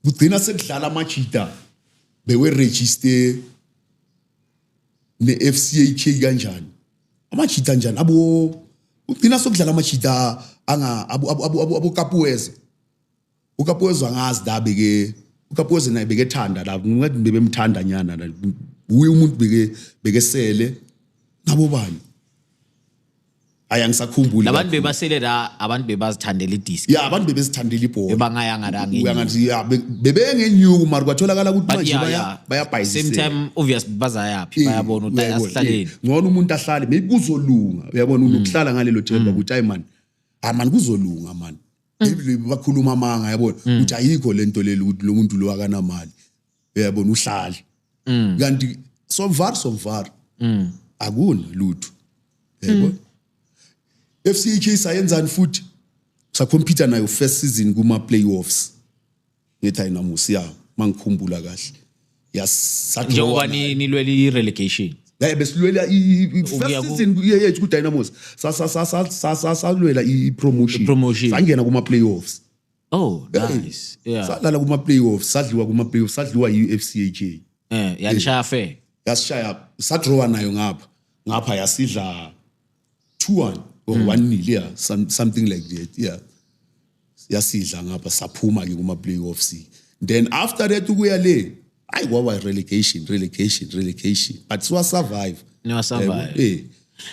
Kugcina sekudlala amajita bewe register neFCK kanjani? amajita njani abo ugcina sokudlala amajita anga abokapuweza ukapuweza angazi la beke ukapuweza naye bekethanda la ngathi bebemthanda nyana la uye umuntu beke bekesele nabo bani hayi angisakhumbuli labantu bebasele la abantu bebazithandela idisc ya abantu bebezithandela ibhola bebangayanga la ngenye uyangathi ya bebengenyuku mari kwatholakala ukuthi manje baya bayabhayisela same time obvious bazayaphi Eh, bayabona ukuthi uyayibona, asihlaleni eh, ngcono umuntu ahlale maybe kuzolunga uyabona unokuhlala ngalelo themba ukuthi hayi mani hayi mani kuzolunga mani maybe bakhuluma amanga yabona ukuthi ayikho le nto leli ukuthi lo muntu lo akanamali uyabona uhlale kanti somvar somvar akuna lutho uyayibona FCK sayenzani futhi sakhompyutha nayo first season kuma playoffs ngithi ayinamusi ya mangikhumbula kahle njengoba nilwela i-relegation yaye besilwela i-first season yethu ku-dynamos salwela i-promotion sangena kuma-playoffs oh nice yeah sadlala kuma playoffs sadliwa kuma playoffs sadliwa i FCAJ eh yalishaya fair yasishaya sadrawa nayo ngapha ngapha yasidla 2 1 or 1 mm. nil yeah some, something like that yeah yasidla ngapha saphuma ke kuma playoffs then after that ukuya le ayi kwaba relegation relegation relegation but siwa survive no survive eh, eh.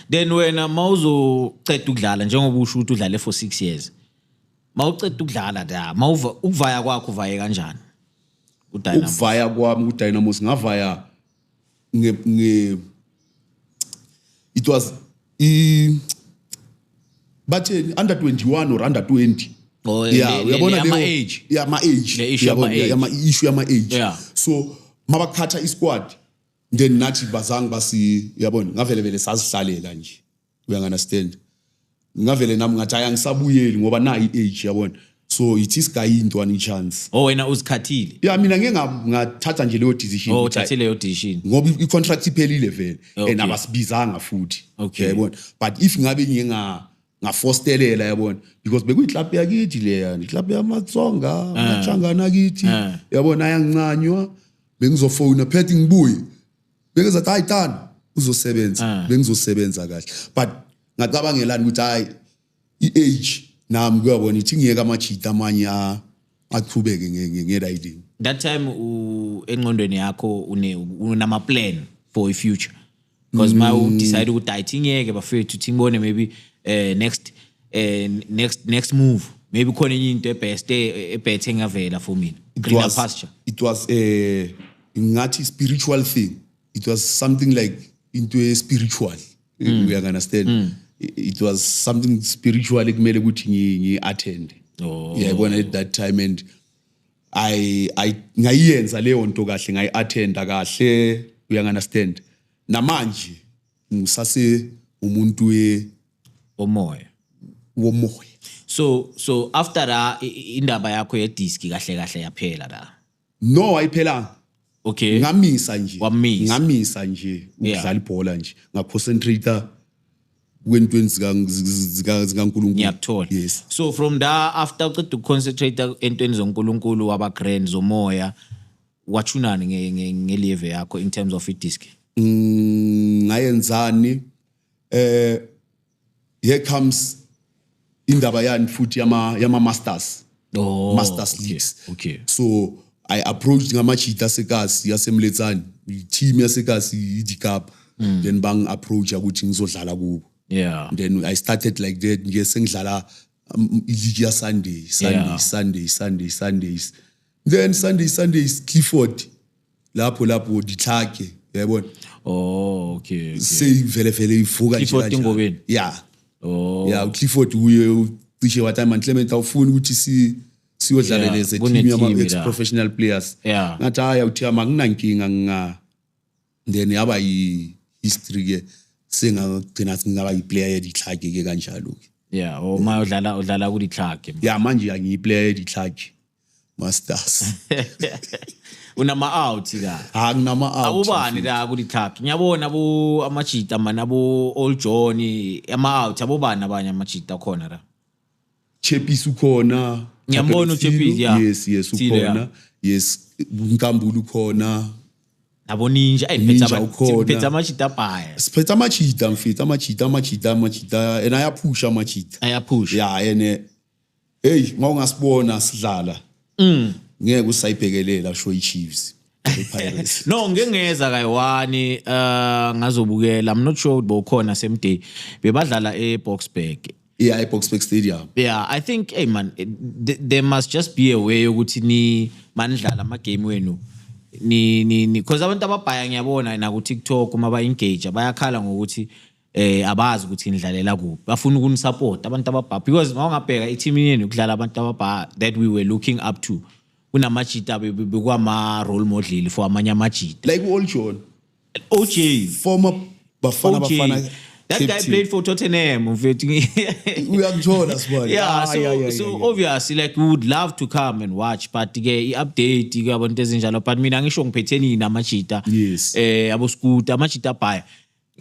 then wena mawuzoceda ukudlala njengoba usho ukuthi udlale for 6 years mawuceda ukudlala da mawuva ukuvaya kwakho uvaye kanjani udynamo ukuvaya kwami udynamo singavaya nge, nge it was i batheni under 21 or under 20 Oh, le- yeah le- uyabona le- leyo- ama-age. yeah ama age Le issue Uyabona, yama-age. yama issue yama age Yeah. so mabakhatha i squad then nathi bazange basi uyabona ngavele vele sazihlalela nje uyangunderstand ngingavele nami ngathi hayi angisabuyeli ngoba nayi i-age yabona so ithi isigayinto ani chance oh wena uzikhathile ya mina ngeke nga- ngathatha nje leyo decision oh ukuthi, hayi, uthathe leyo decision ngoba i- i-contract iphelile vele Okay. and abasibizanga futhi Okay. yabona but if ngabe nginga ngafostelela yabona because bekuyiklabhu yakithi leya iklabhu yamatsonga Ah. amachangana kithi yabona ayangincanywa bengizofona phethe ngibuye bengizathi hayi tani uzosebenza ah. bengizosebenza kahle but ngacabangelani ukuthi hayi i-age nami kuyabona ithi ngiyeka amajita amanye aqhubeke ngelayilini that time enqondweni yakho unama-plan for i-future because ma mm. udecide ukuthi hayi thi ngiyeke bafethu thi ngibone maybe um next eh, next next move maybe khona enye into ebest ebhethe engavela for mina greener pasture it was um ngathi spiritual thing it was something like into e spiritual mm. uya understand mm. it was something spiritual ekumele ukuthi ngi, ngi attend oh. yeah bona at that time and i i ngayenza leyo nto kahle ngayi attend kahle uya understand namanje ngisase umuntu we omoya womoya so so after la indaba yakho ye disc kahle kahle yaphela la no ayiphelanga okay ngamisa nje Wamisa. ngamisa nje Yeah. ukudlala ibhola nje ngaconcentrate kwentweni zika- zika- zikaNkulunkulu ngiyakuthola yes so from da after uqeda ukuconcentrate entweni zonkulunkulu waba grand zomoya wathunani nge- nge- ngelieve yakho in terms of idisk Mm, ngayenzani eh here comes indaba yani futhi yama yama masters oh, masters okay, leagues okay so i approached ngamajita sekasi yasemletsani team yasekasi idikapa mm. then bang approach ukuthi ngizodlala kubo yeah then i started like that nje sengidlala um, iligi ya sunday sunday yeah. sunday sunday sundays then sunday sunday is clifford lapho lapho ditlhake uyayibona oh okay, okay. seyivele vele ivuka nje Clifford kanjalo. Ingobeni? ya oh ya uclifford uye ucishe wathi "Hayi man clement awufuni ukuthi si siyodlala Yeah, leze kune team yama team ex la." professional players Yeah. ngathi hayi awuthiya makunankinga nginga then yaba yi history ke sengagcina singaba yiplayer yeditlhake ke kanjalo ke yeah oh ma udlala udlala kulitlhage ya manje angiyiplayer yeditlhake masters unama-out ka ha nginama-out abobani la kulithaphya ngiyabona abo amajita mani abo old john ama-out abobani abanye amajita akhona la chepisi ukhona Ngiyambona Chapel uChapisi, Silo, yeah. yes yes Silo, yeah. ukhona yes nkambulu ukhona nabo ninja Ninja ayiphethe ukhona. amajita abhaya siphethe amajita mfethu amajita amajita amajita and ayaphusha amajita ayaphusha ya ene Hey, mawungasibona sidlala. Mm. Ngeke usayibhekelela sho iChiefs. Pirates. no ngengeza kayiwani uh ngazobukela i'm not sure ukuthi bowukhona same day bebadlala eBoxburg yeah eBoxburg stadium yeah i think hey man there must just be a way ukuthi ni manidlala ama game wenu ni ni because abantu ababhaya ngiyabona na ku TikTok uma ba engage bayakhala ngokuthi eh abazi ukuthi nidlalela kuphi bafuna ukunisupporta abantu ababha because mawungabheka i-team yenu kudlala abantu ababha that we were looking up to kunamajita bekwama role model for amanye amajita like u-old john oj former bafana bafana That guy team. played for Tottenham. we have joined as well. Yeah, ah, so, yeah, yeah, so yeah, yeah. obviously like we would love to come and watch but ke i-update ke abantu ezinjalo but mina ngisho ngiphetheni namajita yes. eh abo scooter amajita bhaya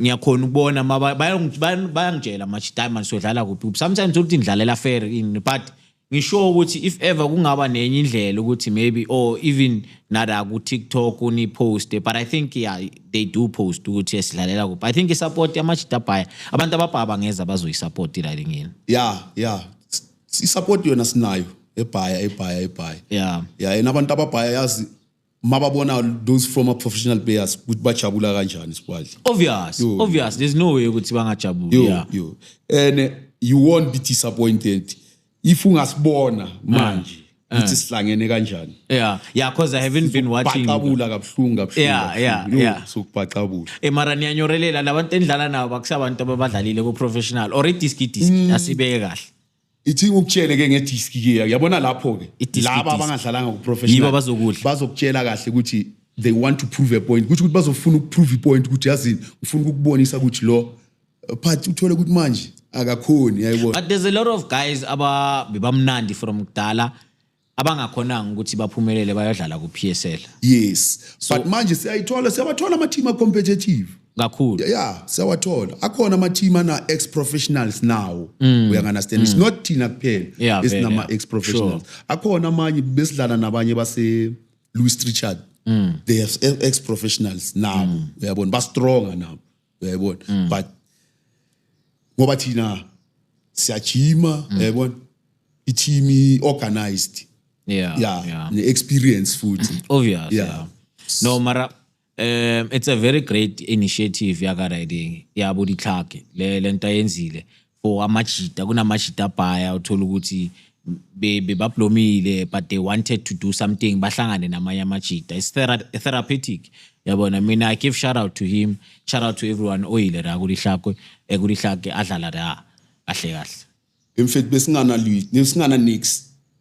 ngiyakhona ukubona ma ba- bayongi- bayan- bayangitshela manje diamond sodlala kuphi kuphi sometimes uthi ngidlalela fair in but ngisho ukuthi if ever kungaba nenye indlela ukuthi maybe or even nada ku TikTok uni post but i think yeah they do post ukuthi esidlalela kuphi i think i support amajita baya abantu ababhaba ngeza bazoyi support la lingini ya ya i-support yona sinayo ebhaya ebhaya ebhaya yeah ya yena abantu ababhaya yazi mababona those former professional players ukuthi bajabula kanjani sibadle obvious Yo, obvious there's no way ukuthi bangajabula yo yeah. yo and uh, you won't be disappointed if ungasibona manje ukuthi sihlangene kanjani yeah yeah because i haven't been watching baqabula kabuhlungu kabuhlungu Yeah, kabuhlungu. yeah, Yo, yeah. sokubaqabula e mara niyanyorelela labantu endidlala nabo bakusabantu ababadlalile ku-professional or idiski diski asibeke kahle ithi ngikutshele ke ngedisk ke yabona lapho ke Idisk, laba idisk. abangadlalanga Yibo kuprofessional abazokudla. bazokutshela kahle ukuthi they want to prove a point ukuthi ukuthi bazofuna ukuprove ipoint ukuthi yazini ngifuna ukukubonisa ukuthi lo uh, phathi uthole ukuthi manje akakhoni yayibona but there's a lot of guys aba bebamnandi from kudala abangakhonanga ukuthi baphumelele bayodlala ku-PSL yes so, but manje siyayithola siyabathola ama-team a-competitive kakhulu yeah siyawathola akhona ama-team ana-ex professionals nawo mm. uyanganastand mm. it's not thina kuphela yeah, esinama-ex professionals sure. akhona amanye besidlala nabanye base-louis richard mm. they have ex professionals nabo mm. uyabona bastronga nabo uyayibona mm. but ngoba thina siyajima mm. uyayibona i-team i-organized yeah, yeah, yeah. ne-experience futhi obvious yeah. yeah. no mara um it's a very great initiative yakariding yabo ditlhake le nto ayenzile for amajita kunamajita abhaya uthola ukuthi bebablomile but they wanted to do something bahlangane namanye amajita is therapeutic yabona mina i give shout out to him shout out to everyone oyile la kulihlakwe ekulihlake adlala la kahle kahle in fact besingana besingana nix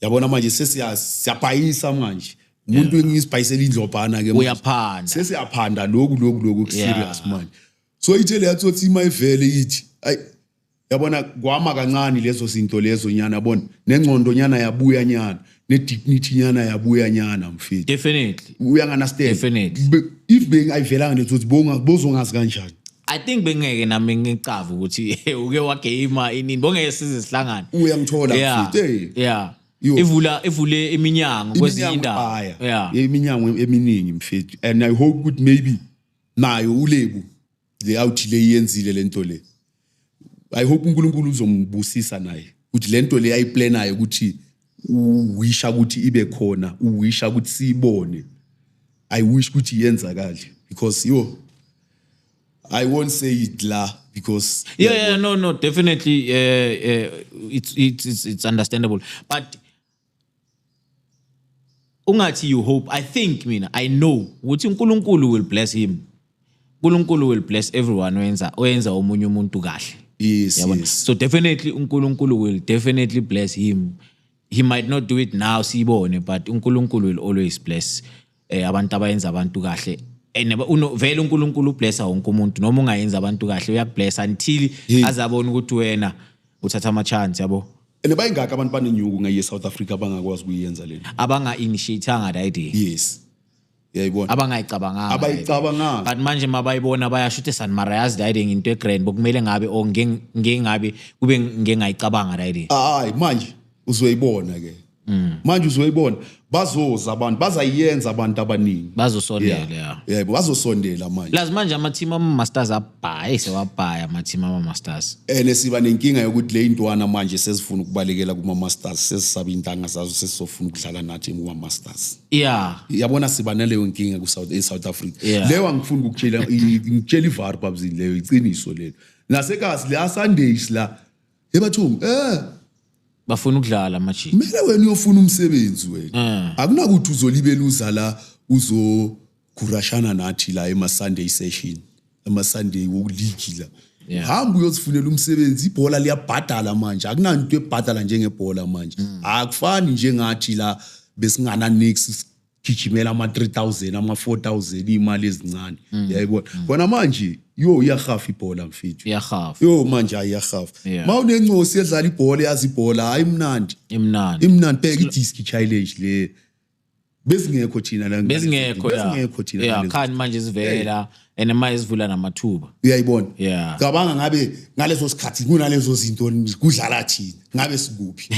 yabona manje sesiyabhayisa manje umuntu yeah. engisibhayisela indlobhana ke uyaphanda sesiyaphanda lokhu lokhu lokhu kuserious yeah. manje so ithele yathothi ima ivele ithi ay yabona kwama kancane lezo zinto lezo nyana yabona nengcondo nyana yabuya nyana ne-dignity nyana yabuya nyana mfethu definitely uyanganastanddefinitely if bengayivelanga nethothi bozongazi kanjani I think bengeke nami ngicava ukuthi uke wageyima inini bongeke size sihlangane. Uyangithola yeah. mfethu. Hey. Yeah. Yo. Ivula ivule iminyango kwezinye indawo. Yeah. Iminyango eminingi mfethu and I hope ukuthi maybe nayo ulebu le awuthi le yenzile lento le. I hope uNkulunkulu uzombusisa naye ukuthi lento le ayiplanayo ukuthi uwisha ukuthi ibe khona uwisha ukuthi siyibone i wish ukuthi iyenzakale because yo i won't say it la because yeah, yeah, no no definitely uh, uh, it's, it's, it's, it's understandable but ungathi you hope i think mina i know ukuthi unkulunkulu will bless him uNkulunkulu will bless everyone oyenza oyenza omunye umuntu kahle yes, yabona yes. so definitely uNkulunkulu will definitely bless him he might not do it now siyibone but uNkulunkulu will always bless eh, abantu abayenza abantu kahle and vele uNkulunkulu ublessa wonke umuntu noma ungayenza abantu kahle uyakublessa until azabona ukuthi wena uthatha ama chance yabo and bayingaka abantu banenyuku ngeye South Africa abangakwazi kuyenza lento abanga initiate anga that idea yes yayibona abangayicabanganga abayicabanganga but manje mabayibona bayasho ukuthi San Mara yazi dayide nginto egrand bokumele ngabe o ngingabe kube ngengayicabanga dayide hayi manje uzoyibona ke mm. manje uzoyibona bazoza abantu bazayenza abantu abaningi bazosondela yeah yebo bazosondela manje lazi manje ama team ama masters abhaye sewabhaya ama team ama masters ene siba nenkinga yokuthi le intwana manje sezifuna ukubalekela kuma masters sesisaba intanga zazo sesizofuna ukudlala nathi kuma masters yeah yabona siba naleyo nkinga ku-south e-south africa yeah. leyo angifuni ukukutshela ngitshela ivar babzini leyo iqiniso lelo nasekasi le asundays la ebathungu eh bafuna ukudlala amajini kumele wena uyofuna umsebenzi wena eh. akunakuthi uzolibela uza la uzo gurashana nathi la ema-sunday session ama-sunday wokuligi la Yeah. hamba uyozifunela umsebenzi ibhola liyabhadala manje akunanto ebhadala njengebhola manje Mm. akufani njengathi la besingana nix sigijimela ama-3000 ama-4000 iy'mali ezincane Mm. yayibona khona manje yo iyahafa ibhola mfethu iyahafa yo manje hayi iyahafa Yeah. ma unencosi edlala ibhola eyazi ibhola hayi imnandi imnandi imnandi bheka idiski challenge le bezingekho thina la bezingekho ya bezingekho thina yeah ngalezi- khani manje zivela and manje izivula namathuba uyayibona Yeah. cabanga ngabe ngaleso sikhathi kunalezo zinto kudlala thina ngabe sikuphi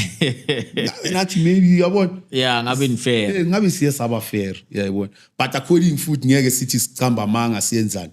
ngabe nathi maybe uyabona yeah ngabe nifela Eh, ngabe siye saba fair uyayibona but according futhi ngeke sithi sichamba amanga siyenzani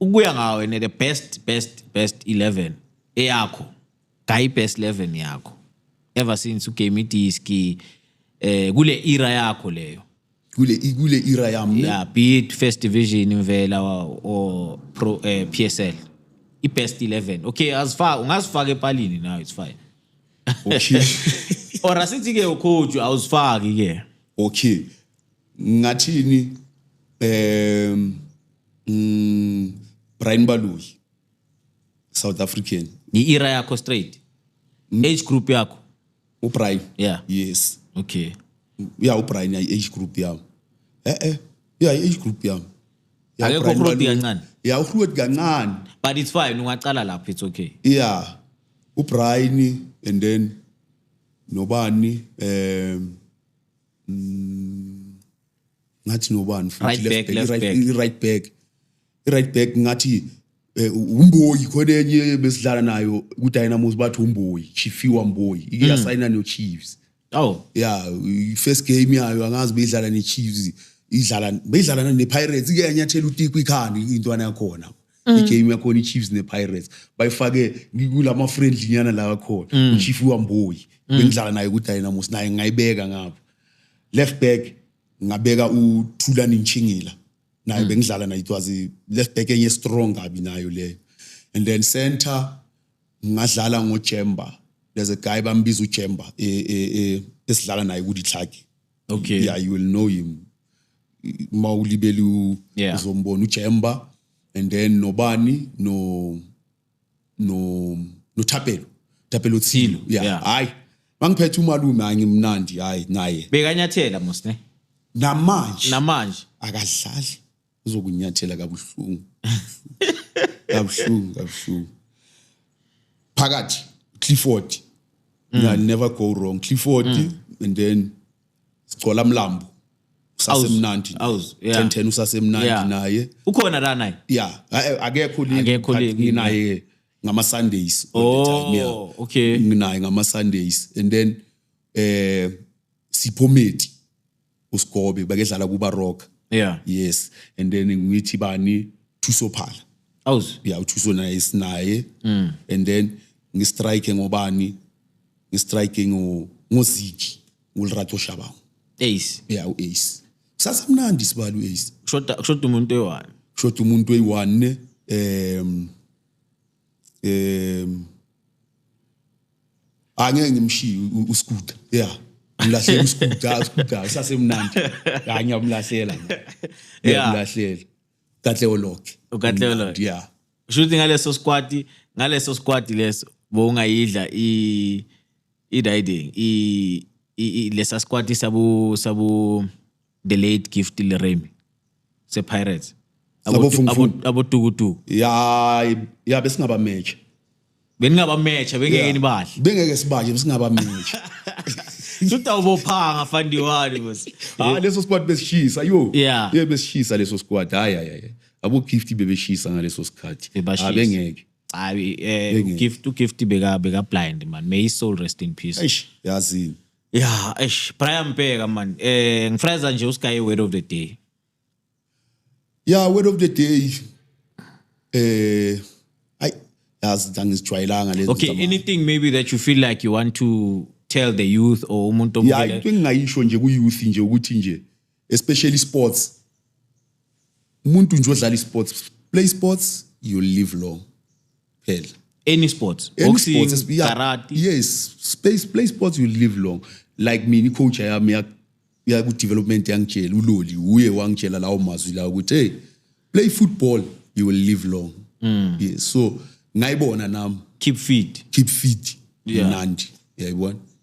ukuya ngawe ne the best best best 11 eyakho gayi best 11 yakho ever since ugame idisk eh kule era yakho leyo kule kule era yami ne yeah be it first division imvela wa- or pro eh, PSL i best 11 okay azifaka ungazifaka epalini now it's fine okay or asithi ke ucoach awuzifaki ke okay ngathini um mm, brian baloyi south african i-era yakho straight age group yakho ubrian Yeah. yes okay ya ubrian yayi age group yami e-e ya age group yami Ya, Akekho Brian uRudy Baloyi. kancane? ya uhrudi kancane but it's fine ungaqala lapho it's okay yeah ubrian and then nobani um mm, ngathi nobani futhi right left back, left back, back. Right, right back right back ngathi Eh, umboyi khona enye besidlala nayo kudynamos bathi umboyi chifiwa mboyi ike hmm. yasayina nechiefs aw ya first game yayo angazi beyidlala nechiefs idlala beyidlala nepirates ike yanyathela utiku ikhanda intwana yakhona mm. igame yakhona ichiefs nepirates bayifake kulama friendly nyana la akhona mm. uchief wamboyi mm. bengidlala naye kudynamos naye ngayibeka ngapha left back ngabeka uthulani nchingila naye mm. bengidlala naye it was left back enye strong kabi nayo leyo and then center ngadlala ngojemba there's a guy bambiza ujemba e, e, e, esidlala naye kuditlaki okay yeah you will know him uma ulibele u- Yeah. uzombona ujemba and then nobani no no nothapelo thapelo thilo yeah Yeah. hayi mangiphethe umalume hayi ngimnandi hayi naye bekanyathela mos ne namanje namanje akadlali uzokunyathela kabuhlungu kabuhlungu kabuhlungu phakathi clifford mm. never go wrong clifford mm. and then sigcola mlambo usasemnandi Aus- yeah. 1010 usasemnandi Yeah. naye ukhona la naye ya a- akekho Akekho link, link. nginaye ngama Sundays all the time, yeah. oh okay nginaye ngama Sundays and then eh siphometi usigobe bakedlala kuba rock yeah yes and then ngithi bani thuso phala aus ya uthuso naye sinaye Mm. and then ngistrike ngobani ngistrike ngo ngoziki nguLerato Shabangu Ace yeah uAce sasamnandi sibali uAce kushoda kushoda umuntu eyi-one kushoda umuntu eyi-one um um angeke ngimshiye u- uskuta ya ngilahlela uskuta uskuta usasemnandi ya ngiyamlahlela ngiyamlahlela katleo loke UKatleo Loke. ya kusho ukuthi ngaleso squad ngaleso squad leso bowungayidla i i-riding i- i- i- lesa squad sabu sabu the late gift le remy sepirates Labo fungufungu. abotukutuku ya ya besingaba match beningaba match bengeke nibahle bengeke sibaje besingaba match sutawubophanga fandiwani bos hayi leso squad besishisa yo Yeah. ye besishisa leso squad hayi hayi hayi abo gift bebeshisa ngaleso sikhathi Bebashisa. Ah, bengeke hayi eh Ngeke. ugift ugift beka beka blind man may his soul rest in peace eish yazini yeah eish Brian Bheka man eh ngifreza nje usikaye word of the day yeah word of the day eh ay yazi angizijwayelanga lezi okay zama- anything maybe that you feel like you want to tell the youth or umuntu yeah omvela into engingayisho nje ku youth nje ukuthi nje especially sports umuntu nje odlala isports play sports you live long phela any sports Any boxing sports, esp- yeah, karate yes space play sports you live long like mina icoach yami ya- ya ku development yangitshela uloli uye wangitshela lawo mazwi lawo ukuthi hey play football you will live long Mm. yes so ngayibona nami keep fit keep fit Yeah. mnandi yayibona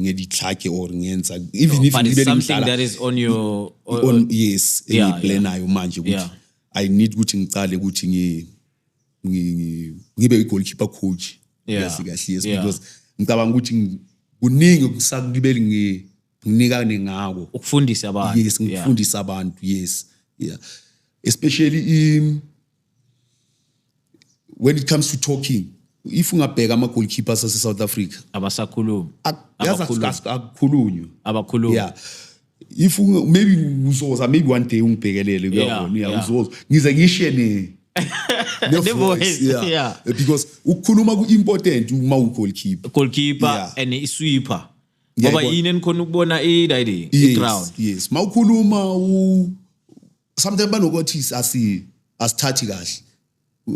ngeditlhake or ngenza even if but it's ngibe something ngidlala that is on your on, on yes Yeah, engiyiplanayo manje ukuthi Yeah. i need ukuthi ngicale ukuthi ngi ngi- ngi- ngibe i-goalkeeper coach Yeah. kahle kahle yes Yeah. because ngicabanga ukuthi ngi- kuningi okusakubeli ngi- nginikane ngako ukufundisa abantu yes Yeah. ngifundisa abantu yes yeah especially i when it comes to talking if ungabheka ama goalkeepers ase South Africa abasakhulumi akukhulunywa abakhulumi yeah if maybe uzoza maybe one day ungibhekelele kuyabona yeah uzoza ngize ngishiye ne the voice yeah. yeah because ukukhuluma ku important uma u goalkeeper goalkeeper yeah. and i sweeper ngoba yini enikhona ukubona i riding i ground yes mawukhuluma u sometimes banokothisi asi asithathi kahle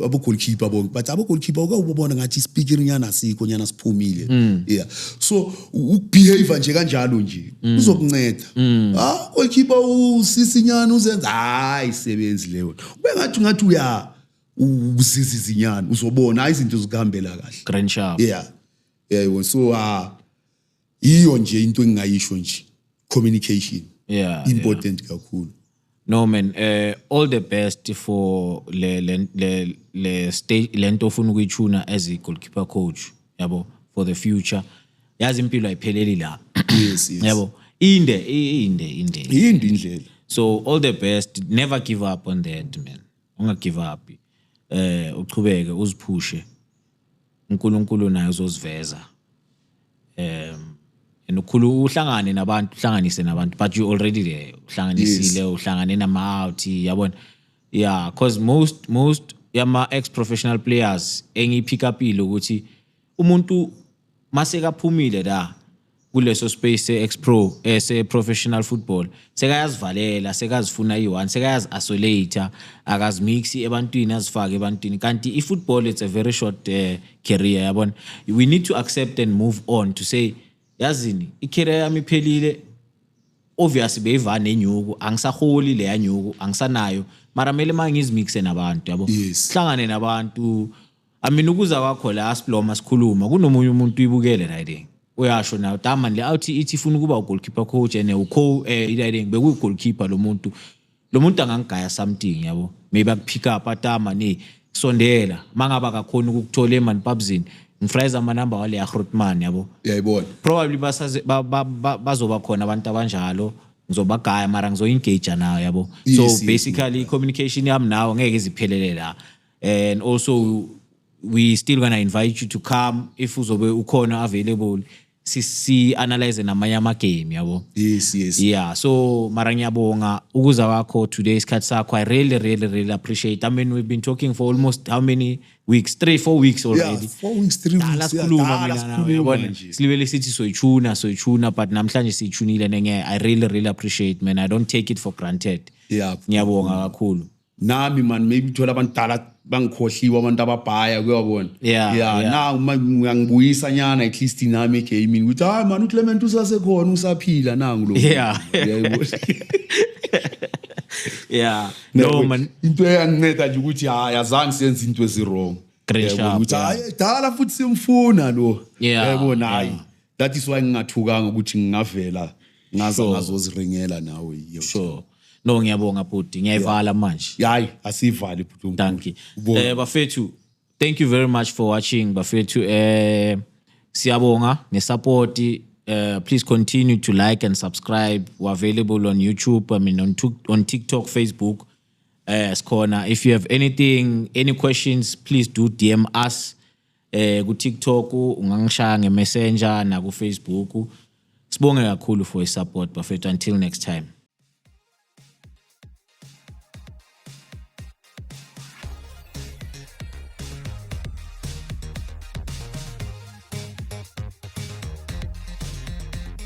abo goalkeeper bonke but abo goalkeeper uke ubona ngathi speaker nyana asikho nyana siphumile mm. yeah so ukubehave nje kanjalo nje mm. uzokunceda mm. ah goalkeeper usisi nyana uzenza hayi sebenzi leyo ubengathi ngathi uya uzizi zinyana uzobona izinto zikuhambela kahle grand sharp yeah yeah so ah yiyo nje into engingayisho nje communication yeah, important yeah. kakhulu no man uh, all the best for le le le, le stage lento ofuna ukuyitshuna as a goalkeeper coach yabo for the future yazi impilo ayipheleli la yes, yes. yabo inde inde inde inde indlela so all the best never give up on that man unga give up eh uh, uchubeke uziphushe uNkulunkulu naye uzoziveza um and ukhulu uhlangane nabantu uhlanganise nabantu but you already there uhlanganisile uhlangane nama-out yabona yeah because most most yama-ex professional players engiyi-pick upile ukuthi umuntu masekaphumile la kuleso space se-ex pro eh, se-professional football sekayazivalela sekazifuna iyi-one sekayazi-isolate akazimixi ebantwini azifake ebantwini kanti i-football it's a very short uh, career yabona we need to accept and move on to say yazini i-career yami iphelile obvious beyiva nenyuku angisaholi leya nyuku angisanayo mara kumele uma ngizimixe nabantu yabo yes. hlangane nabantu Amina ukuza kwakho la asiploma sikhuluma kunomunye umuntu uyibukele la iding. Uyasho nayo Daman le awuthi ithi ifuna ukuba ugoalkeeper coach and uco eh iding bekuyi goalkeeper lo muntu. Lo muntu angangigaya something yabo. Maybe akupick up atama ni sondela mangaba akakhona ukukuthola eman pubzini. Ngifrayza ama number wale ya Grootman yabo. Uyayibona. Probably basaze ba- ba- ba- bazoba khona abantu abanjalo. Ngizobagaya mara ngizoyengage nayo yabo. So Yes, yes. basically i-communication yami nawe ngeke iziphelele la and also we still gonna invite you to come if uzobe ukhona available si, si analyze namanye amagame yabo yes yes yeah so mara ngiyabonga ukuza kwakho today isikhathi sakho i really really really appreciate i mean we've been talking for almost how many weeks three four weeks yeah already four weeks three Dala weeks yeah, sikhuluma dala mina nawe, sikhuluma yabona? nje silibele sithi soyichuna soyichuna but namhlanje siyichunile nenge i really really appreciate man i don't take it for granted Yeah. ngiyabonga kakhulu nami man maybe thola abantu dala bangikhohliwe abantu ababhaya kuyabona yeah, yeah, yeah. na uma ngiyangibuyisa nyana at least nami gaming ukuthi hayi man uClement usasekhona usaphila nangu lo yeah yeah no man into eyanginceda nje ukuthi hayi azange senze into ezi wrong great job ukuthi hayi dala futhi simfuna lo yebo nayi that is why ngingathukanga ukuthi ngingavela ngaza Sure. ngazoziringela nawe yo sure no ngiyabonga bhuti ngiyayivala manje yayi asivali bhuti uNkulunkulu. thank you Ubonge. eh bafethu thank you very much for watching bafethu eh siyabonga ngesupport eh please continue to like and subscribe we're available on youtube i mean on, Tik- on tiktok facebook eh sikhona if you have anything any questions please do dm us eh ku TikTok ungangishaya nge Messenger na ku Facebook sibonge kakhulu for i support bafethu until next time